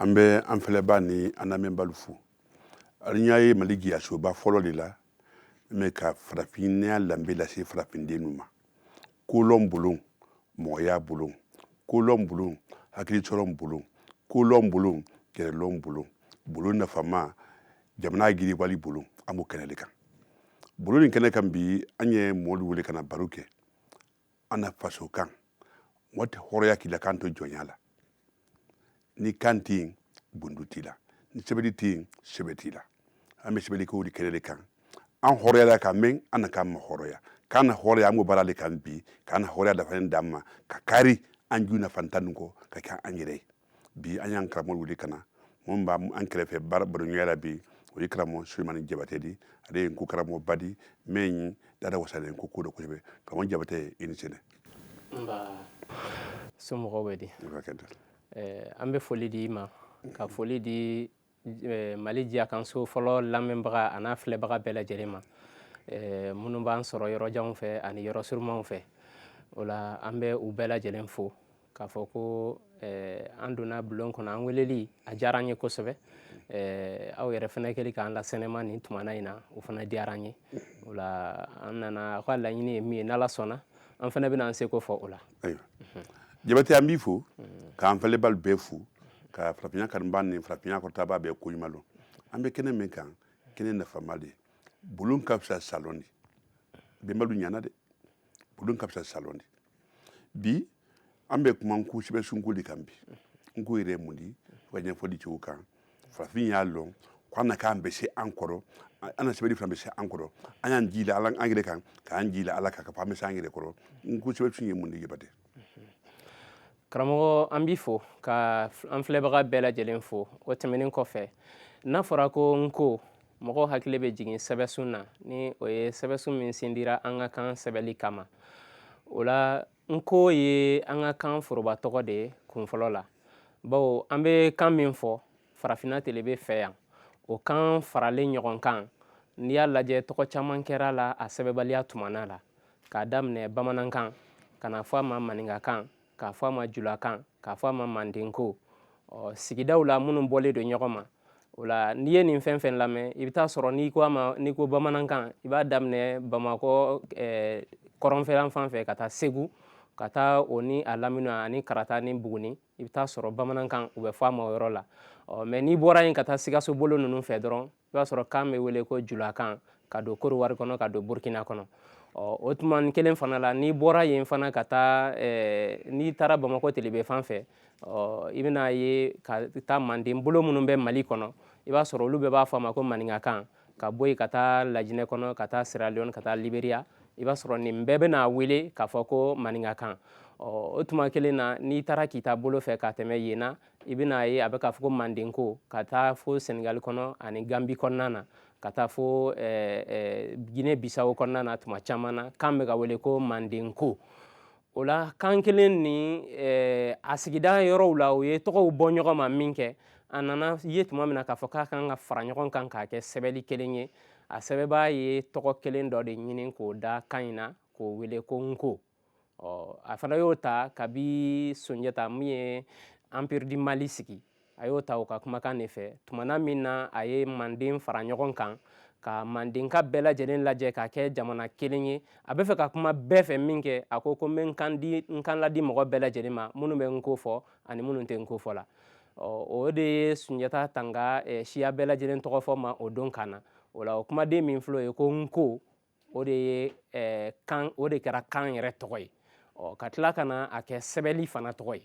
an bɛ an filɛba ni an lamɛnbalu fo alu ɲa ye mali jiyasoba fɔlɔ le la mɛn ka farafinya danbe lase farafindennu ma kolɔn bulon mɔgɔya bulon kolɔn bulon hakilisɔrɔn bulon kolɔn bulon yɛrɛlɔn bulon bulon nafama jamana jiriwali bulon an b'o kɛnɛ le kan bulon nin kɛnɛ kan bi an ye mɔɔlu wele ka na baro kɛ an na faso kan mɔgɔ tɛ hɔrɔya k'i la kan to jɔnya la ni kan tɛ yen bundu t'i la ni sɛbɛli tɛ yen sɛbɛ t'i la an bɛ sɛbɛli ko le kɛnɛ le kan an hɔrɔyala ka mɛn an na kan ma hɔrɔya k'an na hɔrɔya an b'o baara le kan bi k'an na hɔrɔya dafanen d'an ma ka kari an ju nafa tan nin kɔ ka kɛ an yɛrɛ ye bi an y'an karamɔgɔ wele ka na min b'an kɛrɛfɛ baro baroɲɔgɔnya la bi o ye karamɔgɔ sulemani jabate di ale ye nko karamɔgɔba di min ye dada wasalen nko ko dɔ kosɛbɛ karamɔgɔ jabate i ni sɛnɛ somɔgɔw bɛ di an bɛ foli di i ma ka foli di eh, mali jiyakanso fɔlɔ lamɛnbaga an'a filɛbaga bɛɛ lajɛlen ma eh, minnu b'an sɔrɔ yɔrɔjanw fɛ ani yɔrɔ surumanw fɛ o la an bɛ u bɛɛ lajɛlen fo k'a fɔ ko eh, an donna bulon kɔnɔ an weleli a diyara an ye kosɛbɛ aw yɛrɛ fana kɛli k'an lasɛnɛma nin tumana in na o fana diyara an ye o la an nana aw ka laɲini ye min ye n'ala sɔnna an fana bɛna an seko fɔ o la ayiwa jabate an b'i fo k'an filɛbalu bɛɛ fo ka farafinya kanubaa ni farafinya kɔrɔtabaa bɛɛ ko ɲuman lɔn an bɛ kɛnɛ min kan kɛnɛ nafama le bulon ka fisa salɔn di bɛnbalu ɲana de bulon ka fisa salɔn di bi an bɛ kuma nko sɛbɛsun ko le kan bi nko yɛrɛ ye mun di fo ka ɲɛfɔli cogo kan farafin y'a lɔn ko an na kan bɛ se an kɔrɔ an na sɛbɛnni fana bɛ se an kɔrɔ an y'an jii la ala an yɛrɛ kan k'an jii la ala kan k'a fɔ an bɛ se an yɛrɛ kɔrɔ nko sɛbɛsun ye mun di jabate karamɔgɔ an b'i fo ka an filɛbaga bɛɛ lajɛlen fo o tɛmɛnen kɔfɛ n'a fɔra ko nko mɔgɔw hakili bɛ jigin sɛbɛsun na ni o ye sɛbɛsun min sindira an ka kan sɛbɛli kama o la nko ye an ka kan foroba tɔgɔ de ye kunfɔlɔ la bawo an bɛ kan min fɔ farafinna telebe fɛ yan o kan faralen ɲɔgɔn kan n'i y'a lajɛ tɔgɔ caman kɛra a la a sɛbɛbaliya tumana la k'a daminɛ bamanankan ka na fɔ a ma maninkakan k'a fɔ a ma julakan k'a fɔ a ma mandenko sigidaw la minnu bɔlen don ɲɔgɔn ma o la n'i ye nin fɛn fɛn lamɛn i bɛ taa sɔrɔ n'i ko ma n'i ko bamanankan i b'a daminɛ bamakɔ kɔrɔnfɛla fan fɛ ka taa segu ka taa o ni a lamini ani kaarata ni buguni i bɛ taa sɔrɔ bamanankan u bɛ fɔ a ma o yɔrɔ la ɔ mɛ n'i bɔra yen ka taa sikaso bolo ninnu fɛ dɔrɔn i b'a sɔrɔ kan bɛ wele ko julakan ka don kɔdiwari kɔnɔ ka don burukina kɔnɔ ɔ o tuma kelen fana la n'i bɔra yen fana ka taa n'i taara bamakɔ telebe fan fɛ ɔ i bɛna ye ka taa manden bolo minnu bɛ mali kɔnɔ i b'a sɔrɔ olu bɛɛ b'a fɔ a ma ko maninkakan ka bɔ yen ka taa lajinɛ kɔnɔ ka taa siraliyɔn ka taa liberiya i b'a sɔrɔ nin bɛɛ bɛna a wele k'a fɔ ko maninkakan ɔ o tuma kelen na n'i taara kita bolo fɛ ka tɛmɛ yen na i bɛna ye a bɛ k'a fɔ ko mandenko ka taa fo senegali kɔnɔ ani ganbi kɔnɔna na ka taa fo gine bisawo kɔnɔna na tuma caman na kan bɛ ka wele ko mandenko o la kan kelen ni eh, a sigida yɔrɔw la o ye tɔgɔw bɔ ɲɔgɔn ma min kɛ a nana ye tuma min na k'a fɔ k'a kan ka fara ɲɔgɔn kan k'a kɛ sɛbɛli kelen ye a sɛbɛbaa ye tɔgɔ kelen dɔ de ɲini k'o da kan in na k'o wele ko nko ɔ a fana y'o ta kabi sunjata min ye empire du mali sigi a y'o ta o ka kumakan de fɛ tumana min na a ye manden fara ɲɔgɔn kan ka mandenka bɛɛ lajɛlen lajɛ k'a kɛ jamana kelen ye a bɛ fɛ ka kuma bɛɛ fɛ min kɛ a ko ko n bɛ n kan di n kan ladi mɔgɔ bɛɛ lajɛlen ma minnu bɛ n ko fɔ ani minnu tɛ n ko fɔ la o de ye sunjata tanga siya bɛɛ lajɛlen tɔgɔ fɔ ma o don kan na o la o kumaden min filɛ o ye ko n ko o de ye eh, kan o de kɛra kan yɛrɛ tɔgɔ ye ɔ ka tila ka na a kɛ sɛbɛli fana tɔgɔ ye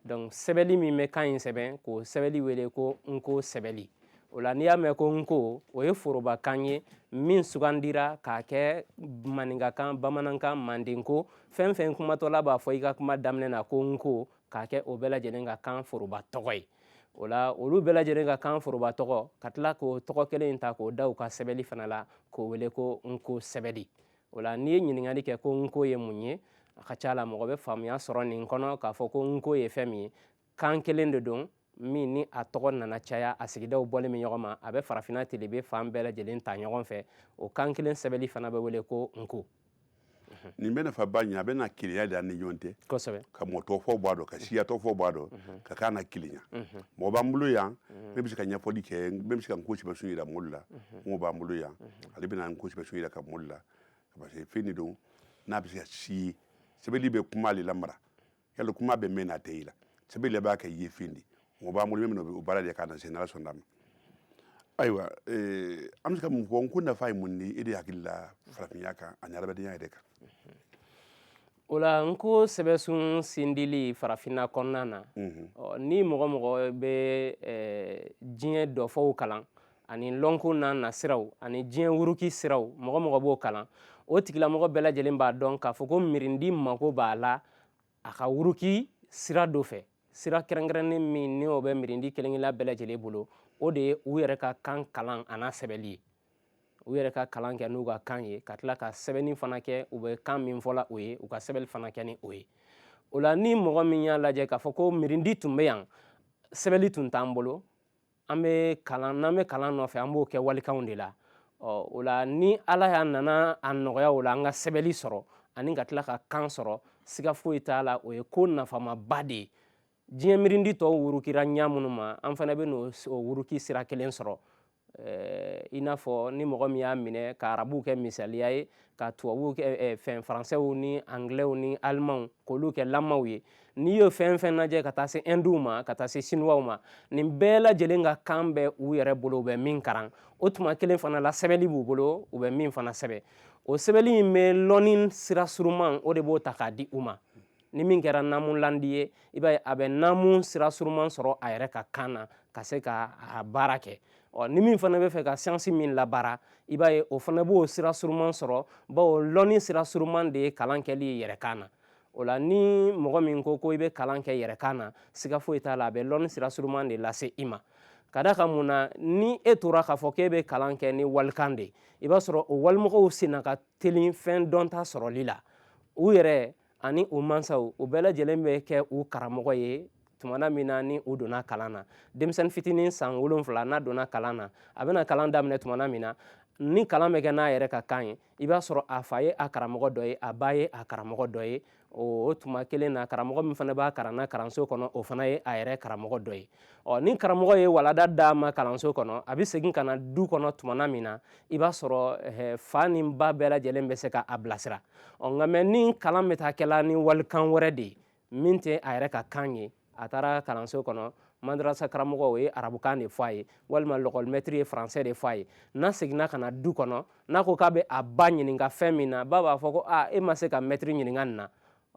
donc sɛbɛli min bɛ kan in sɛbɛn k'o sɛbɛli wele ko nko sɛbɛli o la n'i y'a mɛn ko nko o ye forobakan ye min sugandira k'a kɛ maninkakan bamanankan mandenko fɛn fɛn kumatɔla b'a fɔ i ka kuma daminɛ na ko nko k'a kɛ o bɛɛ lajɛlen ka kan foroba tɔgɔ ye o la olu bɛɛ lajɛlen ka kan foroba tɔgɔ ka tila k'o tɔgɔ kelen in ta k'o da u ka sɛbɛli fana la k'o wele ko nko sɛbɛli o la n'i ye ɲininkali kɛ ko nko ye mun ye a ka ca la mɔgɔ bɛ faamuya sɔrɔ nin kɔnɔ k'a fɔ ko nko ye fɛn min ye kan kelen de don min ni a tɔgɔ nana caya a sigidaw bɔlen bɛ ɲɔgɔn ma a bɛ farafinna telebe fan bɛɛ lajɛlen ta ɲɔgɔn fɛ o kan kelen sɛbɛli fana bɛ wele ko nko nin bɛ nafa ba ɲɛ a bɛ na kelenya di an ni ɲɔgɔn tɛ kosɛbɛ ka mɔɔ tɔɔ fɔ bɔ a dɔ ka siya tɔɔ fɔ bɔ a dɔ ka k'an nakelenya mɔgɔ b'an bolo yan min bɛ se ka ɲɛfɔli kɛ min bɛ se ka n ko sɛbɛsun yira mɔɔlu la mɔgɔ b'an bolo yan ale bɛna n ko sɛbɛsun yiraka mɔɔlu la parce que fɛn de don n'a bɛ se ka si sɛbɛli bɛ kuma le lamara y'a lɔn kuma bɛ mɛn n'a tɛ ye la sɛbɛli le b'a kɛ yefen di mɔgɔ b'an bolo min o baara de k'a na se n'ala sɔnda a ma ayiwa an bɛ se ka mun fɔ n ko nafa ye mun di e de hakili la farafinya kan ani adamadenya yɛrɛ kan o la n ko sɛbɛsun sindili farafinna kɔnɔna na ni mɔgɔ mɔgɔ bɛ diɲɛ dɔfɔw kalan ani lɔnko n'a nasiraw ani diɲɛ wuruki siraw mɔgɔ mɔgɔ b'o kalan o tigilamɔgɔ bɛɛ lajɛlen b'a dɔn k'a fɔ ko mirindi mako b'a la a ka wuruki sira dɔ fɛ sira kɛrɛnkɛrɛnnen min ni o bɛ mirindi kelenkelenna bɛɛ lajɛlen bolo o de ye u yɛrɛ ka kan kalan a n'a sɛbɛnli ye u yɛrɛ ka kalan kɛ n'u ka kan ye ka tila ka sɛbɛnni fana kɛ u bɛ kan min fɔla o ye u ka sɛbɛnni fana kɛ ni o ye o la ni mɔgɔ min y'a lajɛ k'a fɔ ko mirindi tun bɛ yan sɛbɛnni tun t'an bolo n'an bɛ kalan nɔfɛ an b'o kɛ walikanw de la ɔ o la ni ala y'a nana a nɔgɔya o la an ka sɛbɛnli sɔrɔ ani ka tila ka kan sɔrɔ siga foyi t'a la o ye ko nafamaba de ye diɲɛ mirindi tɔw wurukira ɲa minnu ma an fana bɛ n'o wuruki sira kelen sɔrɔ i n'a fɔ ni mɔgɔ min y'a minɛ ka arabuw kɛ misaliya ye ka tubabuw kɛ eh, fɛn faransɛw ni angilɛw ni alimanw k'olu kɛ lamaw ye n'i y'o fɛn fɛn lajɛ ka taa se ɛndiw ma ka taa se siniwaw ma nin bɛɛ lajɛlen ka kan bɛ u yɛrɛ bolo u bɛ min karan o tuma kelen fana la sɛbɛnni b'u bolo u bɛ min fana sɛbɛn o sɛbɛnni in bɛ lɔnni sira suruman o de b'o ta k'a di u ma ni min kɛra naamulandi ye i b'a ye a bɛ naamu sira suruman sɔrɔ a yɛrɛ ka kan na ka se ka a baara kɛ ɔ ni min fana bɛ fɛ ka siyansi min labaara i b'a ye o fana b'o sira suruman sɔrɔ bawo lɔnni sira suruman de ye kalan kɛli ye yɛrɛkan na o la ni mɔgɔ min ko ko i bɛ kalan kɛ yɛrɛkan na siga foyi t'a la a bɛ lɔnni sira suruman de lase i ma ka da kan mun na ni e tora k'a fɔ k'e bɛ kalan kɛ ni walikan de ye i b'a sɔrɔ o walimɔgɔw senna ka teli fɛn dɔnta sɔrɔli la u yɛrɛ ani u mansaw u bɛɛ lajɛlen bɛ kɛ u karamɔgɔ ye tumana min na ni u donna kalan na denmisɛnnin fitinin san wolonfila n'a donna kalan na a bɛna kalan daminɛ tumana min na ni kalan bɛ kɛ n'a yɛrɛ ka kan ye i b'a sɔrɔ a fa ye a karamɔgɔ dɔ ye a ba ye a karamɔgɔ dɔ ye o tuma kelen na karamɔgɔ min fana b'a kalan na kalanso kɔnɔ o fana ye a yɛrɛ karamɔgɔ dɔ ye ɔ ni karamɔgɔ ye walada d'a ma kalanso kɔnɔ a bɛ segin ka na du kɔnɔ tumana min na i b'a sɔrɔ fa ni ba bɛɛ lajɛlen bɛ se ka a bilasira ɔ nka mɛ ni kalan bɛ taa kɛla ni walikan wɛrɛ de ye min tɛ a yɛrɛ ka kan ye a taara kalanso kɔnɔ madarasa karamɔgɔ o ye arabukan de fɔ a ye walima lɔkɔlimɛtiri ye faransɛ de fɔ a ye n'a seginna ka na du kɔnɔ n'a ko k'a bɛ a ba ɲininka fɛn min na ba b'a fɔ ko aa e ma se ka mɛtiri ɲininka nin na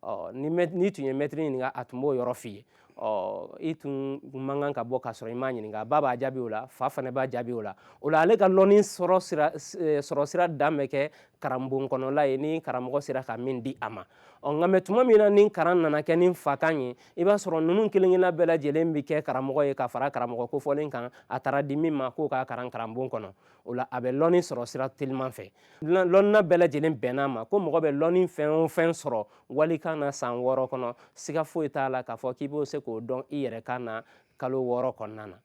ɔ n'i tun ye mɛtiri ɲininka a tun b'o yɔrɔ f'i ye ɔ i tun man kan ka bɔ k'a sɔrɔ i m'a ɲininka ba b'a jaabi o la fa fana b'a jaabi o la o la ale ka lɔnni sɔrɔ sira dan bɛ kɛ karanbon kɔnɔla ye ni karamɔgɔ sera ka min di a ma ɔ nka mɛ tuma min na ni karan nana kɛ ni fakan ye i b'a sɔrɔ ninnu kelenkelenna bɛɛ lajɛlen bɛ kɛ karamɔgɔ ye ka fara karamɔgɔ kofɔlen kan a taara di min ma k'o k'a karan karanbon kɔnɔ o la a bɛ lɔnni sɔrɔ sira teliman fɛ lɔnna bɛɛ lajɛlen bɛnn'a ma ko mɔgɔ bɛ lɔnni fɛn o fɛn sɔrɔ walikan na san wɔɔrɔ kɔnɔ siga foyi t'a la k'a fɔ k'i b'o se k'o dɔn i yɛrɛ kan na kalo wɔɔrɔ kɔnɔna na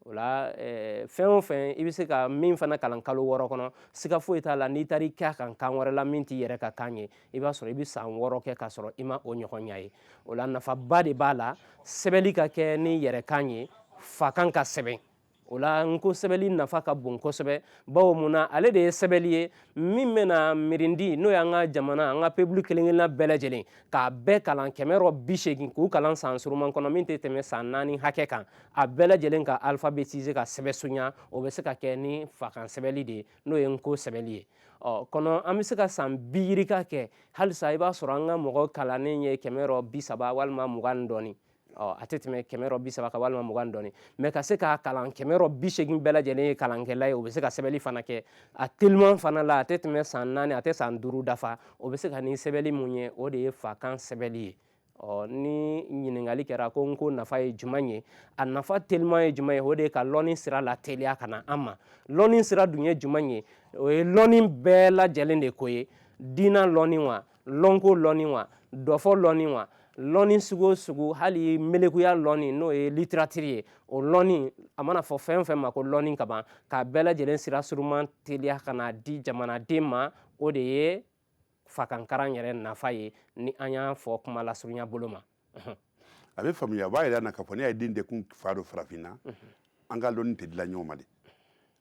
o la eh, fɛn o fɛn i bɛ se ka min fana kalan kalo wɔɔrɔ kɔnɔ siga foyi t'a la n'i taara i kɛ a kan kan wɛrɛ la min t'i yɛrɛ ka kan ye i b'a sɔrɔ i bɛ san wɔɔrɔ kɛ k'a sɔrɔ i ma o ɲɔgɔn ɲa ye o la nafaba de b'a la sɛbɛnni ka kɛ n'i yɛrɛ kan ye fakan ka sɛbɛn o la n ko sɛbɛli nafa ka bon kosɛbɛ bawo mun na ale de ye sɛbɛli ye min bɛna mirindi n'o y'an ka jamana an ka peuple kelenkelenna bɛɛ lajɛlen k'a bɛɛ kalan kɛmɛ rɔ bi segin k'u kalan san suruman kɔnɔ min tɛ tɛmɛ san naani hakɛ kan a bɛɛ lajɛlen ka alphabétiser ka sɛbɛsunya o bɛ se ka kɛ ni fakan sɛbɛli de ye n'o ye n ko sɛbɛli ye ɔ kɔnɔ an bɛ se ka san bi yirika kɛ halisa i b'a sɔrɔ an ka mɔgɔ kalannen ye kɛmɛ rɔ bi saba walima mugan ni dɔɔni ɔ a tɛ tɛmɛ kɛmɛ rɔ bi saba kan walima mugan dɔɔni mais ka se k'a kalan kɛmɛ rɔ bi segin bɛɛ lajɛlen ye kalankɛla ye o bɛ se ka sɛbɛnni fana kɛ a teliman fana la a tɛ tɛmɛ san naani a tɛ san duuru dafa o bɛ se ka ni sɛbɛnni min ye o de ye fakan sɛbɛnni ye ɔ ni ɲininkali kɛra ko n ko nafa ye jumɛn ye a nafa teliman ye jumɛn ye o de ye ka lɔnni sira lateliya ka na an ma lɔnni sira dun ye jumɛn ye o ye lɔnni bɛɛ lajɛlen de ko ye diinɛ lɔnni wa lɔnko lɔni wa dɔfɔ lɔni wa lɔni sugu o sugu hali melekuya lɔni n'o ye littérature ye o lɔni a mana fɔ fɛn fɛn ma ko lɔni ka ban k'a bɛɛ lajɛlen sira suruman teliya ka n'a di jamanaden ma o de ye fakankaran yɛrɛ nafa ye ni an y'a fɔ kuma lasurunya bolo ma a bɛ faamuya a b'a jir'an na k'a fɔ n'i ye den tɛ kun fa dɔ farafinna an ka lɔni tɛ di la ɲɔgɔn ma de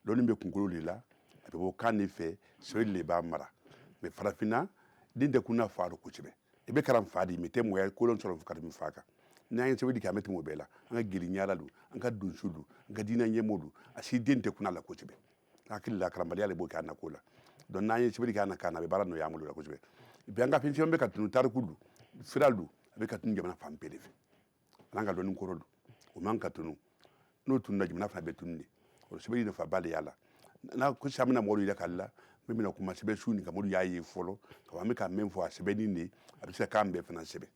lɔni bɛ kunkolo de la a bɛ bɔ kan de fɛ sɛbɛ de b'a mara mais farafinna den tɛ kun na fa dɔ kosɛbɛ i bɛ kalan fa di mais i tɛ mɔgɔ ye ka lɔni sɔrɔ ka tɛmɛ fa kan n'an ye sɛbɛli kɛ an bɛ tɛmɛ o bɛɛ la an ka jeli ŋaralu an ka donsolu an ka diinɛ ɲɛmɔgɔlu a si den tɛ kun la kosɛbɛ hakili la karanbaliya de b'o kɛ an na ko la donc n'an ye sɛbɛli kɛ an na kan na a bɛ baara nɔgɔya an bolo la kosɛbɛ bi an ka fɛn caman bɛ ka tunu tariku don sira don a bɛ ka tunu jamana fan bɛɛ de fɛ an'an ka dɔnni kɔrɔ don o man ka tunu n'o tununa jamana fana bɛ tunu de o sɛbɛli nafaba de y'a la n'a ko sisan an bɛna mɔgɔw yɛrɛ k'ale la min bɛna kuma sɛbɛnsun nin kan mɔgɔw y'a ye fɔlɔ ka an bɛ ka min fɔ a sɛbɛnni de a bɛ se ka kan bɛɛ fana sɛbɛn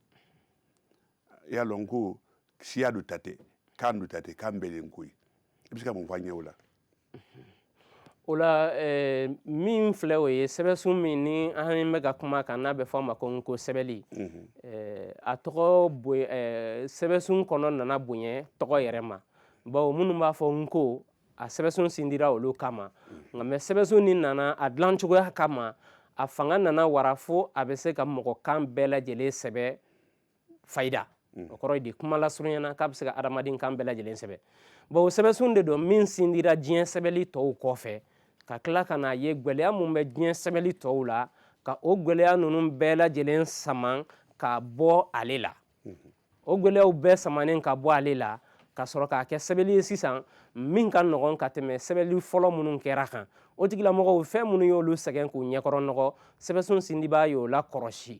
i y'a lɔn ko siya dɔ ta tɛ kan dɔ ta tɛ kan bɛɛ de ko ye i bɛ se ka mun fɔ an ɲɛ o la o la min filɛ o ye sɛbɛsun min ni an bɛ ka kuma kan n'a bɛ fɔ a ma ko n ko sɛbɛnli a tɔgɔ sɛbɛsun kɔnɔ nana bonya tɔgɔ yɛrɛ ma bawo minnu b'a fɔ n ko a sɛbɛsun sindira olu kama nka mais sɛbɛsun nin nana a dilan cogoya kama a fanga nana wara fo a bɛ se ka mɔgɔkan bɛɛ lajɛlen sɛbɛ fayida mm. o kɔrɔ di kuma lasurunyana k'a bɛ se ka adamaden kan bɛɛ lajɛlen sɛbɛn bawo sɛbɛnsun de don min sindira diɲɛ sɛbɛnli tɔw kɔfɛ ka tila ka n'a ye gwɛlɛya mun bɛ diɲɛ sɛbɛnli tɔw la ka o gwɛlɛya ninnu bɛɛ lajɛlen saman ka bɔ ale la mm-hmm. o gwɛlɛyaw bɛɛ samanen ka bɔ ale la ka sɔrɔ k'a kɛ sɛbɛnli ye sisan min ka nɔgɔn ka tɛmɛ sɛbɛnli fɔlɔ minnu kɛra kan o tigilamɔgɔw fɛn minnu y'olu sɛgɛn k'u ɲɛkɔrɔ nɔgɔ sɛbɛnsun sindibaa y'o lakɔrɔsi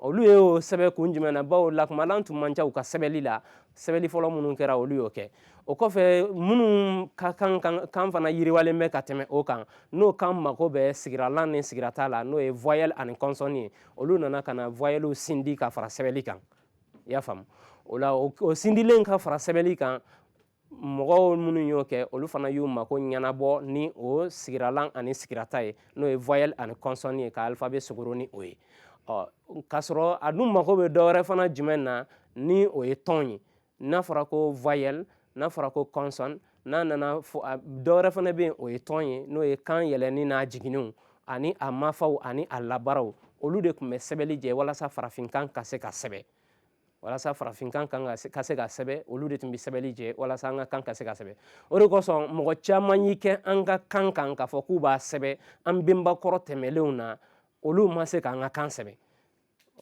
olu ye o sɛbɛn kun jumɛn na bawo lakumalan tun man ca u ka sɛbɛnli la sɛbɛnli fɔlɔ minnu kɛra olu y'o kɛ o kɔfɛ minnu ka kan fana yiriwalen bɛ ka tɛmɛ o kan n'o kan mako bɛ sigiralan ni sigirata la n'o ye voyelle ani consonne ye olu nana ka na voyellew sindi ka fara sɛbɛnli kan i y'a faamu o la o sindilen ka fara sɛbɛnli kan mɔgɔw minnu y'o kɛ olu fana y'u mako ɲɛnabɔ ni o sigiralan ani sigirata ye n'o ye voyelle ani consonne ye ka alphabet sogoro ni o ye ɔ k'a sɔrɔ a dun mako bɛ dɔwɛrɛ fana jumɛn na ni o ye ton ye n'a fɔra ko voyelle n'a fɔra ko consonne n'a nana fɔ dɔwɛrɛ fana bɛ yen o ye ton ye n'o ye kan yɛlɛnni n'a jiginniw ani a mafaw ani a labaraw olu de tun bɛ sɛbɛnli jɛ walasa farafinkan ka se ka sɛbɛn walasa farafinkan kan ka se ka sɛbɛ olu de tun bɛ sɛbɛli jɛ walasa an ka kan ka se ka sɛbɛ o de kosɔn mɔgɔ caman y'i kɛ an ka kan kan k'a fɔ k'u b'a sɛbɛ an benba kɔrɔ tɛmɛlenw na olu ma se k'an ka kan sɛbɛ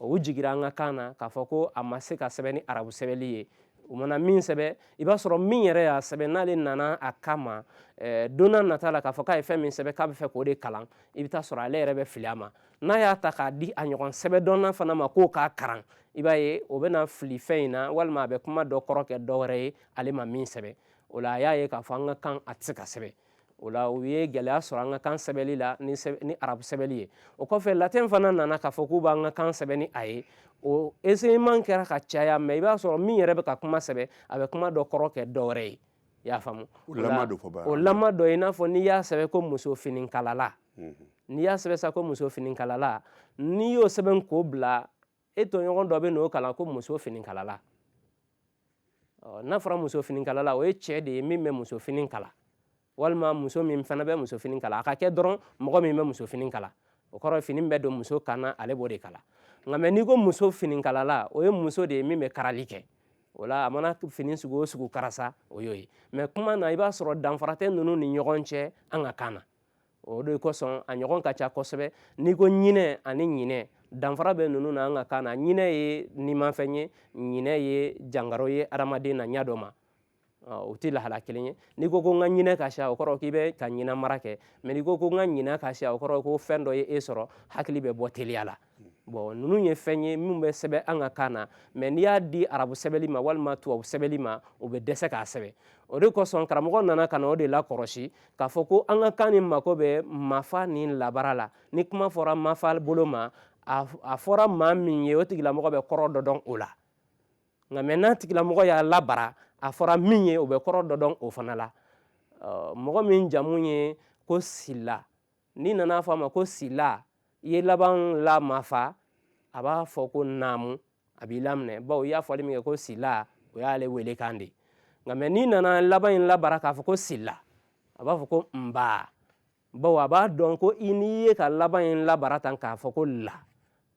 u jigira an ka kan na k'a fɔ ko a ma se ka sɛbɛ ni arabu sɛbɛli ye u mana min sɛbɛ i b'a sɔrɔ min yɛrɛ y'a sɛbɛ n'ale nana a kama eh, don n'a nata la k'a fɔ k'a ye fɛn min sɛbɛ k'a bɛ fɛ k'o de kalan i bɛ t'a sɔrɔ ale yɛrɛ bɛ fili a ma n'a y'a ta k'a di a ɲɔgɔn sɛbɛdɔnna fana ma k'o k'a karan i b'a ye o bɛna fili fɛn in na walima a bɛ kuma dɔ kɔrɔ kɛ dɔ wɛrɛ ye ale ma min sɛbɛn o la a y'a ye k'a fɔ an ka kan a tɛ se ka sɛbɛn o la u ye gɛlɛya sɔrɔ an ka kan sɛbɛnli la ni ni arabu sɛbɛnli ye o kɔfɛ latin fana nana k'a fɔ k'u b'an ka kan sɛbɛn ni a ye o essayement kɛra ka caya mɛ i b'a sɔrɔ min yɛrɛ bɛ ka kuma sɛbɛn a bɛ kuma dɔ kɔrɔ kɛ dɔ wɛrɛ ye i y'a faamu o lama don fɔ baara o lama dɔ i n'a fɔ n'i y'a sɛbɛn ko muso finikalala n'i y'a sɛbɛn sa ko muso finikalala n'i y'o sɛbɛn k'o bila e tɔɲɔgɔn dɔ bɛ n'o kalan ko muso finikalala n'a fɔra muso finikalala o ye cɛ de ye min bɛ muso fini kala walima muso min fana bɛ muso fini kala a ka kɛ dɔrɔn mɔgɔ min bɛ muso fini kala o kɔrɔ fini bɛ don muso kan na ale b'o de kala nka mɛ n'i ko muso finikalala o ye muso de ye min bɛ karali kɛ o la a mana fini sugu o sugu kara sa o y'o ye mɛ kuma na i b'a sɔrɔ danfara tɛ ninnu ni ɲɔgɔn cɛ an ka kan na o de kosɔn a ɲɔgɔn ka ca kosɛbɛ n'i ko ɲinɛ ani ɲinɛ danfara bɛ ninnu na an ka kan na ɲinɛ ye nimafɛn ye ɲinɛ ye jangaro ye adamaden na ɲɛ dɔ ma o tɛ lahala kelen ye n'i ko ko n ka ɲinɛ ka siya o kɔrɔ k'i bɛ ka ɲinɛ mara kɛ mɛ n'i ko ko n ka ɲinɛ ka siya o kɔrɔ ko fɛn dɔ ye e sɔrɔ hakili bɛ bɔ teliya la bɔn ninnu ye fɛn ye minnu bɛ sɛbɛn an ka kan na mɛ n'i y'a di arabu sɛbɛnli ma walima tubabu sɛbɛnli ma o bɛ dɛsɛ k'a sɛbɛn o de kosɔn karamɔgɔ nana ka na o de lakɔlɔsi k'a fɔ ko an ka kan in mako bɛ mafa ni labara la ni kuma fɔra mafa bolo ma a fɔra maa min ye o tigilamɔgɔ bɛ kɔrɔ dɔ dɔn o la nka mɛ n'a tigilamɔgɔ y'a labara a fɔra min ye o bɛ kɔrɔ dɔ dɔn o fana la mɔgɔ min jamu ye ko sila n'i nana fɔ a ma ko sila i ye laban la mafa a b'a fɔ ko naamu a b'i laminɛ bawo i y'a fɔli min kɛ ko sila o y'ale welekan de nka mɛ n'i nana laban in labara k'a fɔ ko sila a b'a fɔ ko nba bawo a b'a dɔn ko i n'i ye ka laban in labara tan k'a fɔ ko la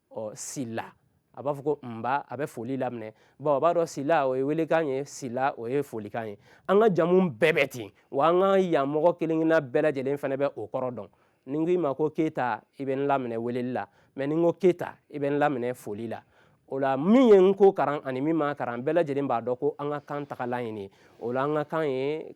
ɔ sila a b'a fɔ ko nba a bɛ foli laminɛ bawo a b'a dɔn sila o ye welekan ye sila o ye folikan ye an ka jamu bɛɛ bɛ ten wa an ka yan mɔgɔ kelen kelenna bɛɛ lajɛlen fana bɛ o kɔrɔ dɔn ni n ko i ma ko keyita i bɛ n laminɛ weleli la mɛ ni n ko keyita i bɛ n laminɛ foli la o la min ye nko karan ani min ma karan bɛɛ lajɛlen b'a dɔn ko an ka kan tagalan ye nin ye o la an ka kan ye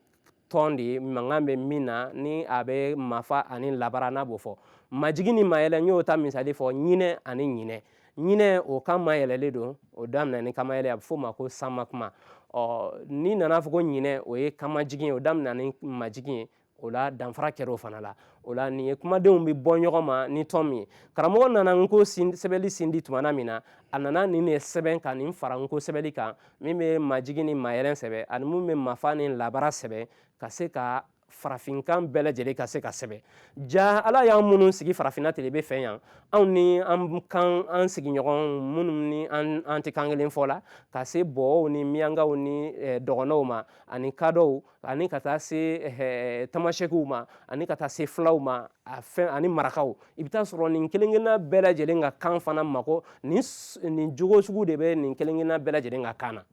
tɔn de ye mankan bɛ min na ni a bɛ mafa ani labara n'a b'o fɔ majigin ni mayɛlɛ n y'o ta misali fɔ ɲinɛ ani ɲinɛ ɲinɛ o kan mayɛlɛlen don o daminɛ ni kanmayɛlɛ a bɛ f'o ma ko sanma kuma ɔ n'i nana fɔ ko ɲinɛ o ye kanmajigin ye o daminɛ ni majigin ye o la danfara kɛra o fana la o la nin ye kumadenw bɛ bɔ ɲɔgɔn ma ni tɔn min ye karamɔgɔ nana nko sɛbɛnli sindi tumana min na a nana nin de sɛbɛn ka nin fara nko sɛbɛnli kan min bɛ majigin ni mayɛlɛ sɛbɛn ani min bɛ mafa ni labara sɛbɛn ka se ka farafinkan bɛɛ lajɛlen ka se ka sɛbɛn jaa ala y'an minnu sigi farafinna telebe fɛ yan anw ni an kan an sigiɲɔgɔn minnu ni an tɛ kan kelen fɔ la ka se bɔɔw ni miyankaw ni dɔgɔnɔw ma ani kadɔw ani ka taa se eh, tamasɛkiw ma ani ka taa se fulaw ma a fɛn ani marakaw i bɛ taa sɔrɔ nin kelenkelenna bɛɛ lajɛlen ka kan fana mako nin nin jogo sugu de bɛ nin kelenkelenna bɛɛ lajɛlen ka kan na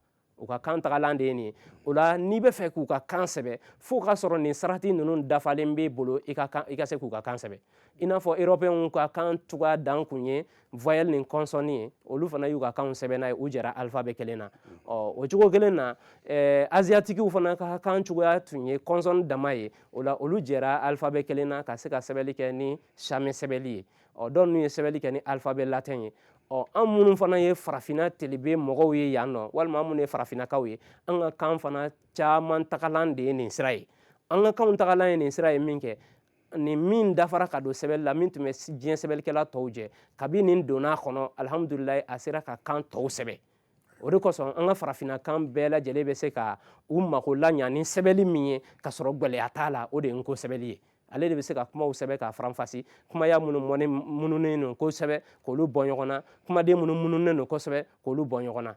u ka kan tagalan de ye nin ye o la n'i b'a fɛ k'u ka kan sɛbɛn fo ka sɔrɔ nin sarati ninnu dafalen b'e bolo i ka kan i ka se k'u ka kan sɛbɛn i n'a fɔ erɔpɛnw ka kan cogoya dan kun ye voyelle ni consonne ye olu fana y'u ka kanw sɛbɛn n'a ye u jɛra alphabet kelen na ɔ o cogo kelen na eh, asiatikiw fana ka kan cogoya tun ye consonne dama ye o la olu jɛra alphabet kelen na ka se ka sɛbɛnni kɛ ni sami sɛbɛnni ye ɔ dɔw n'u ye sɛbɛnni kɛ ni alphabet latin ye ɔ an minnu fana ye farafinna telebe mɔgɔw ye yan nɔ walima an minnu ye farafinnakaw ye an ka kan fana caman tagalan de ye nin sira ye an ka kanw tagalan ye nin sira ye minkɛ nin min dafara ka don sɛbɛli la min tun bɛ diɲɛ sɛbɛlikɛla tɔw jɛ kabi nin donna a kɔnɔ alihamudulilayi a sera ka kan tɔw sɛbɛn o de kosɔn an ka farafinna kan bɛɛ lajɛlen bɛ se ka u mako laɲa ni sɛbɛli min ye ka sɔrɔ gwɛlɛya t'a la o de ye n ko sɛbɛli ye ale de bɛ se ka kumaw sɛbɛn k'a faranfasi kumaya minnu mununen don kosɛbɛ k'olu bɔ ɲɔgɔn na kumaden minnu mununen don kosɛbɛ k'olu bɔ ɲɔgɔn na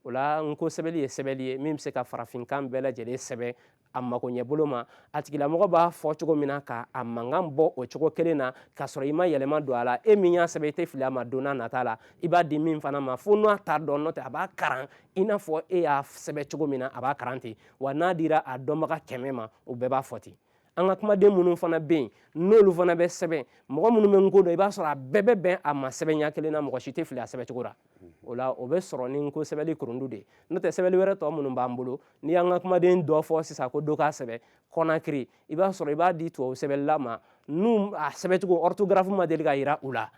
o la n ko sɛbɛli ye sɛbɛli ye min bɛ se ka farafinkan bɛɛ lajɛlen sɛbɛn a makoɲɛbolo ma a tigilamɔgɔ b'a fɔ cogo min na ka a mankan bɔ o cogo kelen na k'a sɔrɔ i ma yɛlɛma don a la e min y'a sɛbɛn i tɛ fili a ma don n'a nata la i b'a di min fana ma fo n'a t'a dɔn n'o tɛ a b'a karan i n'a fɔ e y'a sɛbɛn cogo min na a b'a karan ten wa n'a dira a dɔnbaga kɛmɛ ma o bɛɛ b'a fɔ ten an ka kumaden minnu fana bɛ yen n'olu fana bɛ sɛbɛn mɔgɔ minnu bɛ n ko dɔn i b'a sɔrɔ a bɛɛ bɛ bɛn a ma sɛbɛnya kelen na mɔgɔ si tɛ fili a sɛbɛncogo la o la o bɛ sɔrɔ ni n ko sɛbɛli kurundu de n'o tɛ sɛbɛli wɛrɛ tɔ minnu b'an bolo n'i y'an ka kumaden dɔ fɔ sisan ko dɔ k'a sɛbɛ kɔnakiri i b'a sɔrɔ i b'a di tubabu sɛbɛlila ma n'u a sɛbɛcogo orthographe ma deli ka yira u la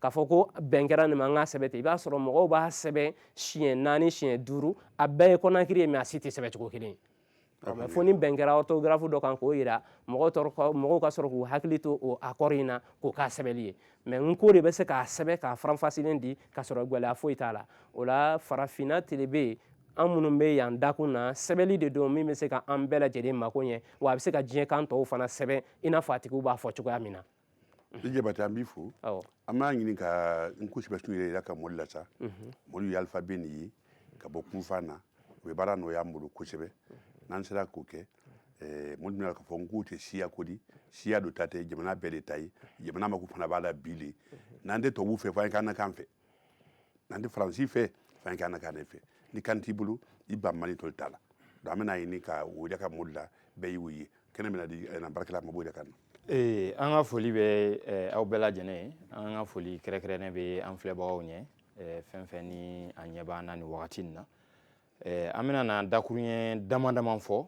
k'a fɔ ko bɛn kɛra nin ma an k'a sɛbɛ ten i b'a sɔrɔ mɔgɔw b'a sɛbɛn siɲɛ naani siɲɛ duuru a bɛɛ ye kɔnakiri ye mɛ a si tɛ sɛbɛcogo kelen ye mɛ fo ni bɛn kɛra orthographe dɔ kan k'o yira mɔgɔw sɔrɔ ka- mɔgɔw ka sɔrɔ k'u hakili to o accord in na k'o k'a sɛbɛli ye mɛ n ko de bɛ se k'a sɛbɛ k'a faranfasilen di ka sɔrɔ gwɛlɛya foyi t'a la o la farafina telebe an minnu bɛ yan dakun na sɛbɛli de don min bɛ se ka an bɛɛ lajɛlen mako ɲɛ wa a bɛ se ka diɲɛ kan tɔw fana sɛbɛn i n'a fɔ a tigiw b'a fɔ cogoya min na i jabate an b'i fo an b'a ɲini ka n ko sɛbɛsun yira an ka mɔɔlu la sa mɔɔlu ye alifabe nin ye ka bɔ kunfan na o bɛ baara nɔgɔya an bolo kosɛbɛ n'an sera k'o kɛ eh, mɔɔlu bɛna a lɔn k'a fɔ n ko tɛ siya ko di siya dɔ ta tɛ jamana bɛɛ le ta ye jamana mako fana b'a la bi le n'an tɛ tubabuw fɛ fo an ye k'an na kan fɛ n'an tɛ faransi fɛ fo an ye kɛ an na kan ne fɛ ni kan t'i bolo i ban mali toli t'a la donc an bɛna ɲini ka o yira an ka mɔɔlu la bɛɛ y'o ye kɛnɛ bɛna di eh, na baarakɛla ma a b'o yira an na ee an ka foli bɛ eh, aw bɛɛ lajɛlen ye an ka foli kɛrɛkɛrɛnnen bɛ an filɛbagaw ɲɛ eh, fɛn fɛn ni a ɲɛ b'an na nin wagati nin na eh, an bɛna na dakurunɲɛ dama dama fɔ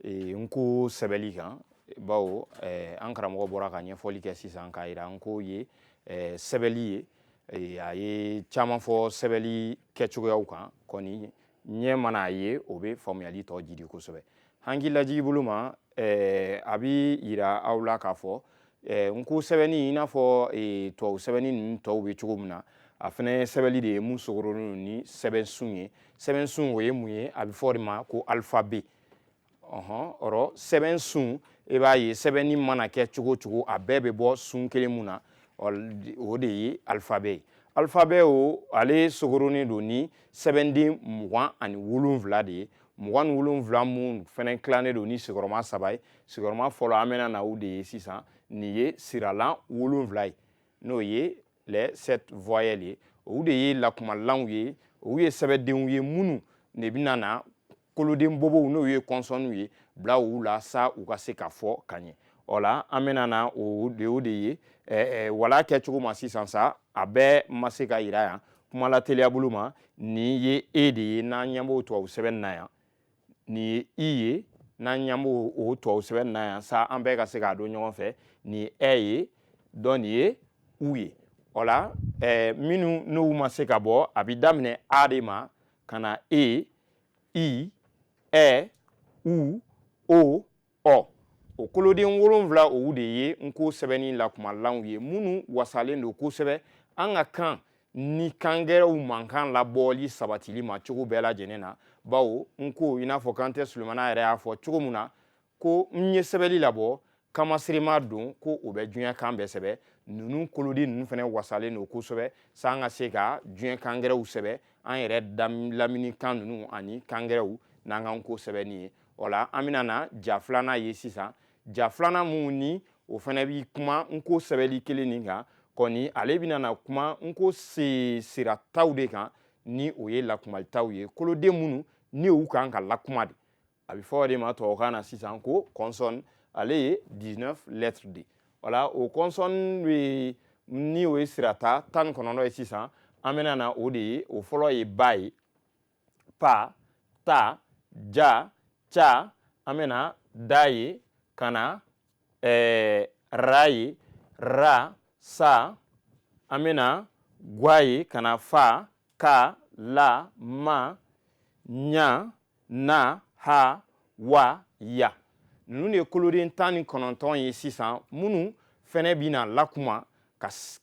eh, n ko sɛbɛli kan bawo eh, an karamɔgɔ bɔra ka ɲɛfɔli kɛ sisan k'a yira n ko ye eh, sɛbɛli ye eh, a ye caman fɔ sɛbɛli kɛcogoyaw kan kɔni ɲɛ mana a ye o bɛ faamuyali tɔ jidi kosɛbɛ hankili lajigi bolo ma eh, a bɛ yira aw la k'a fɔ eh, n ko sɛbɛnni i n'a fɔ eh, tubabu sɛbɛnni ninnu tɔw bɛ cogo min na a fana ye sɛbɛnni de ye mun sogoronnen don ni sɛbɛnsun ye sɛbɛnsun o ye mun ye a bɛ fɔ o de ma ko alifabe ɔhɔn ɔrɔ sɛbɛnsun i e b'a ye sɛbɛnni mana kɛ cogo o cogo a bɛɛ bɛ bɔ sun kelen mun na o de ye alifabe ye alifabe o ale sogoronnen don ni sɛbɛnden mugan ani wolonwula de ye mugan ni wolonwula min fɛnɛ tilannen don ni sigiyɔrɔma saba ye sigiyɔrɔma fɔlɔ an bɛna na u de ye sisan nin ye siralan wolonwula ye n'o ye les sept voyelles ye olu de ye lakumalanw ye olu ye sɛbɛdenw ye minnu de bɛna na koloden bobow n'o ye consonnes ye bila u la sa u ka se ka fɔ ka ɲɛ o la an bɛna na o de o de ye wala kɛ cogo ma sisan sa a bɛɛ ma se ka yira yan kuma lateliya bolo ma nin ye e de ye n'an ɲɛ b'o tubabu sɛbɛn na yan nin ye i ye n'an ɲɛ b'o o tubabu sɛbɛn na yan sa an bɛɛ ka se k'a dɔn ɲɔgɔn fɛ nin ye ɛ ye dɔn nin ye u ye o la minnu n'u ma se ka bɔ a bɛ daminɛ a de ma ka na e i ɛ u o ɔ o koloden wolonfila olu de ye n ko sɛbɛnni lakumalanw ye minnu wasalen don kosɛbɛ an ka kan ni kan gɛrɛw mankan labɔli sabatili ma cogo bɛɛ lajɛlen na bawo n ko i n'a fɔ kante sulemana yɛrɛ y'a fɔ cogo min na ko n ye sɛbɛli labɔ kanmaserema don ko o bɛ diɲɛ kan bɛɛ sɛbɛ ninnu koloden ninnu fana wasalen don kosɛbɛ sa an ka se ka diɲɛ kan gɛrɛw sɛbɛ an yɛrɛ lamini kan ninnu ani kan gɛrɛw n'an ka n ko sɛbɛnni ye o la an bɛna na ja filanan ye sisan ja filanan min ni o fɛnɛ bɛ kuma n ko sɛbɛnli kelen nin kan kɔni ale bɛna na kuma n ko sirataw de kan ni o ye lakumataw ye koloden minnu ni u kan ka lakuma de a bɛ fɔ o de ma tubabukan na sisan ko consonne ale ye 19 lettres de wala o consonne bɛ ni o ye sirata tan ni kɔnɔntɔn ye sisan an bɛna na o de ye o fɔlɔ ye ba ye pa ta ja ca an bɛna da ye ka na ra ye ra sa an bɛna gwa ye ka na fa ka la ma ɲa na ha wa ya ninnu de ye koloden tan ni kɔnɔntɔn ye sisan minnu fɛnɛ bɛna lakuma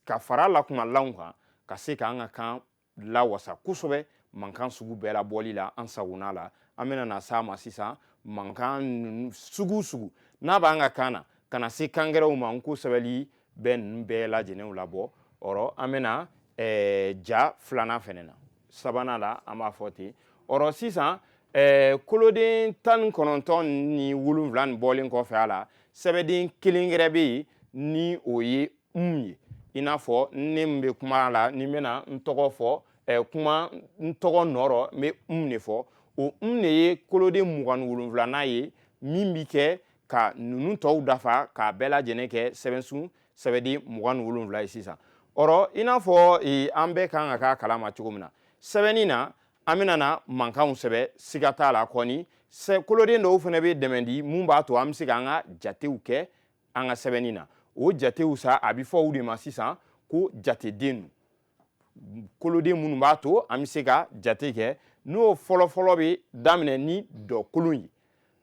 ka fara lakumalanw kan ka se ka an ka kan lawasa kosɛbɛ mankan sugu bɛɛ labɔli la an sagona la an bɛna na s'a ma sisan mankan sugu sugu n'a b'an ka kan na ka na se kan gɛrɛw ma n ko sɛbɛli bɛ ninnu bɛɛ lajɛlen labɔ ɔrɔ an bɛna eh, ja filanan fɛnɛ na sabanan la an b'a fɔ ten ɔrɔ sisan eh, koloden tan ni kɔnɔntɔn ni wolonwula nin bɔlen kɔfɛ a la sɛbɛden kelen gɛrɛ bɛ yen ni o ye ye i n'a fɔ ne bɛ kuma la ni n bɛna n tɔgɔ fɔ kuma n tɔgɔ nɔrɔ n bɛ n de fɔ o de ye koloden mugan wolonwulanan ye min bɛ kɛ ka ninnu tɔw dafa k'a bɛɛ lajɛlen kɛ sɛbɛnsun sɛbɛnden mugan wolonwula ye sisan ɔrɔ i n'a fɔ an bɛɛ ka kan k'a kalama cogo min na sɛbɛnni na an bɛna na mankanw sɛbɛn siga t'a la kɔni koloden dɔw fana bɛ dɛmɛ di min b'a to an bɛ se k'an ka jatew kɛ an ka sɛbɛnni na o jatew sa a bɛ fɔ u de ma sisan ko jateden koloden minnu b'a to an bɛ se ka jate kɛ n'o fɔlɔfɔlɔ bɛ daminɛ ni dɔkolon ye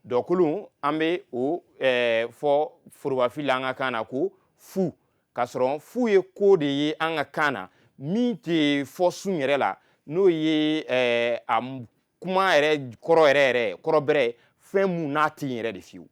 dɔkolon an bɛ o eh, fɔ forobafili la an ka kan na ko fu k'a sɔrɔ fu ye ko de ye an ka kan na min tɛ fɔ sun yɛrɛ la n'o ye eh, a kuma yɛrɛ kɔrɔ yɛrɛ yɛrɛ kɔrɔ bɛrɛ fɛn mun n'a tɛ yen yɛrɛ de fiyewu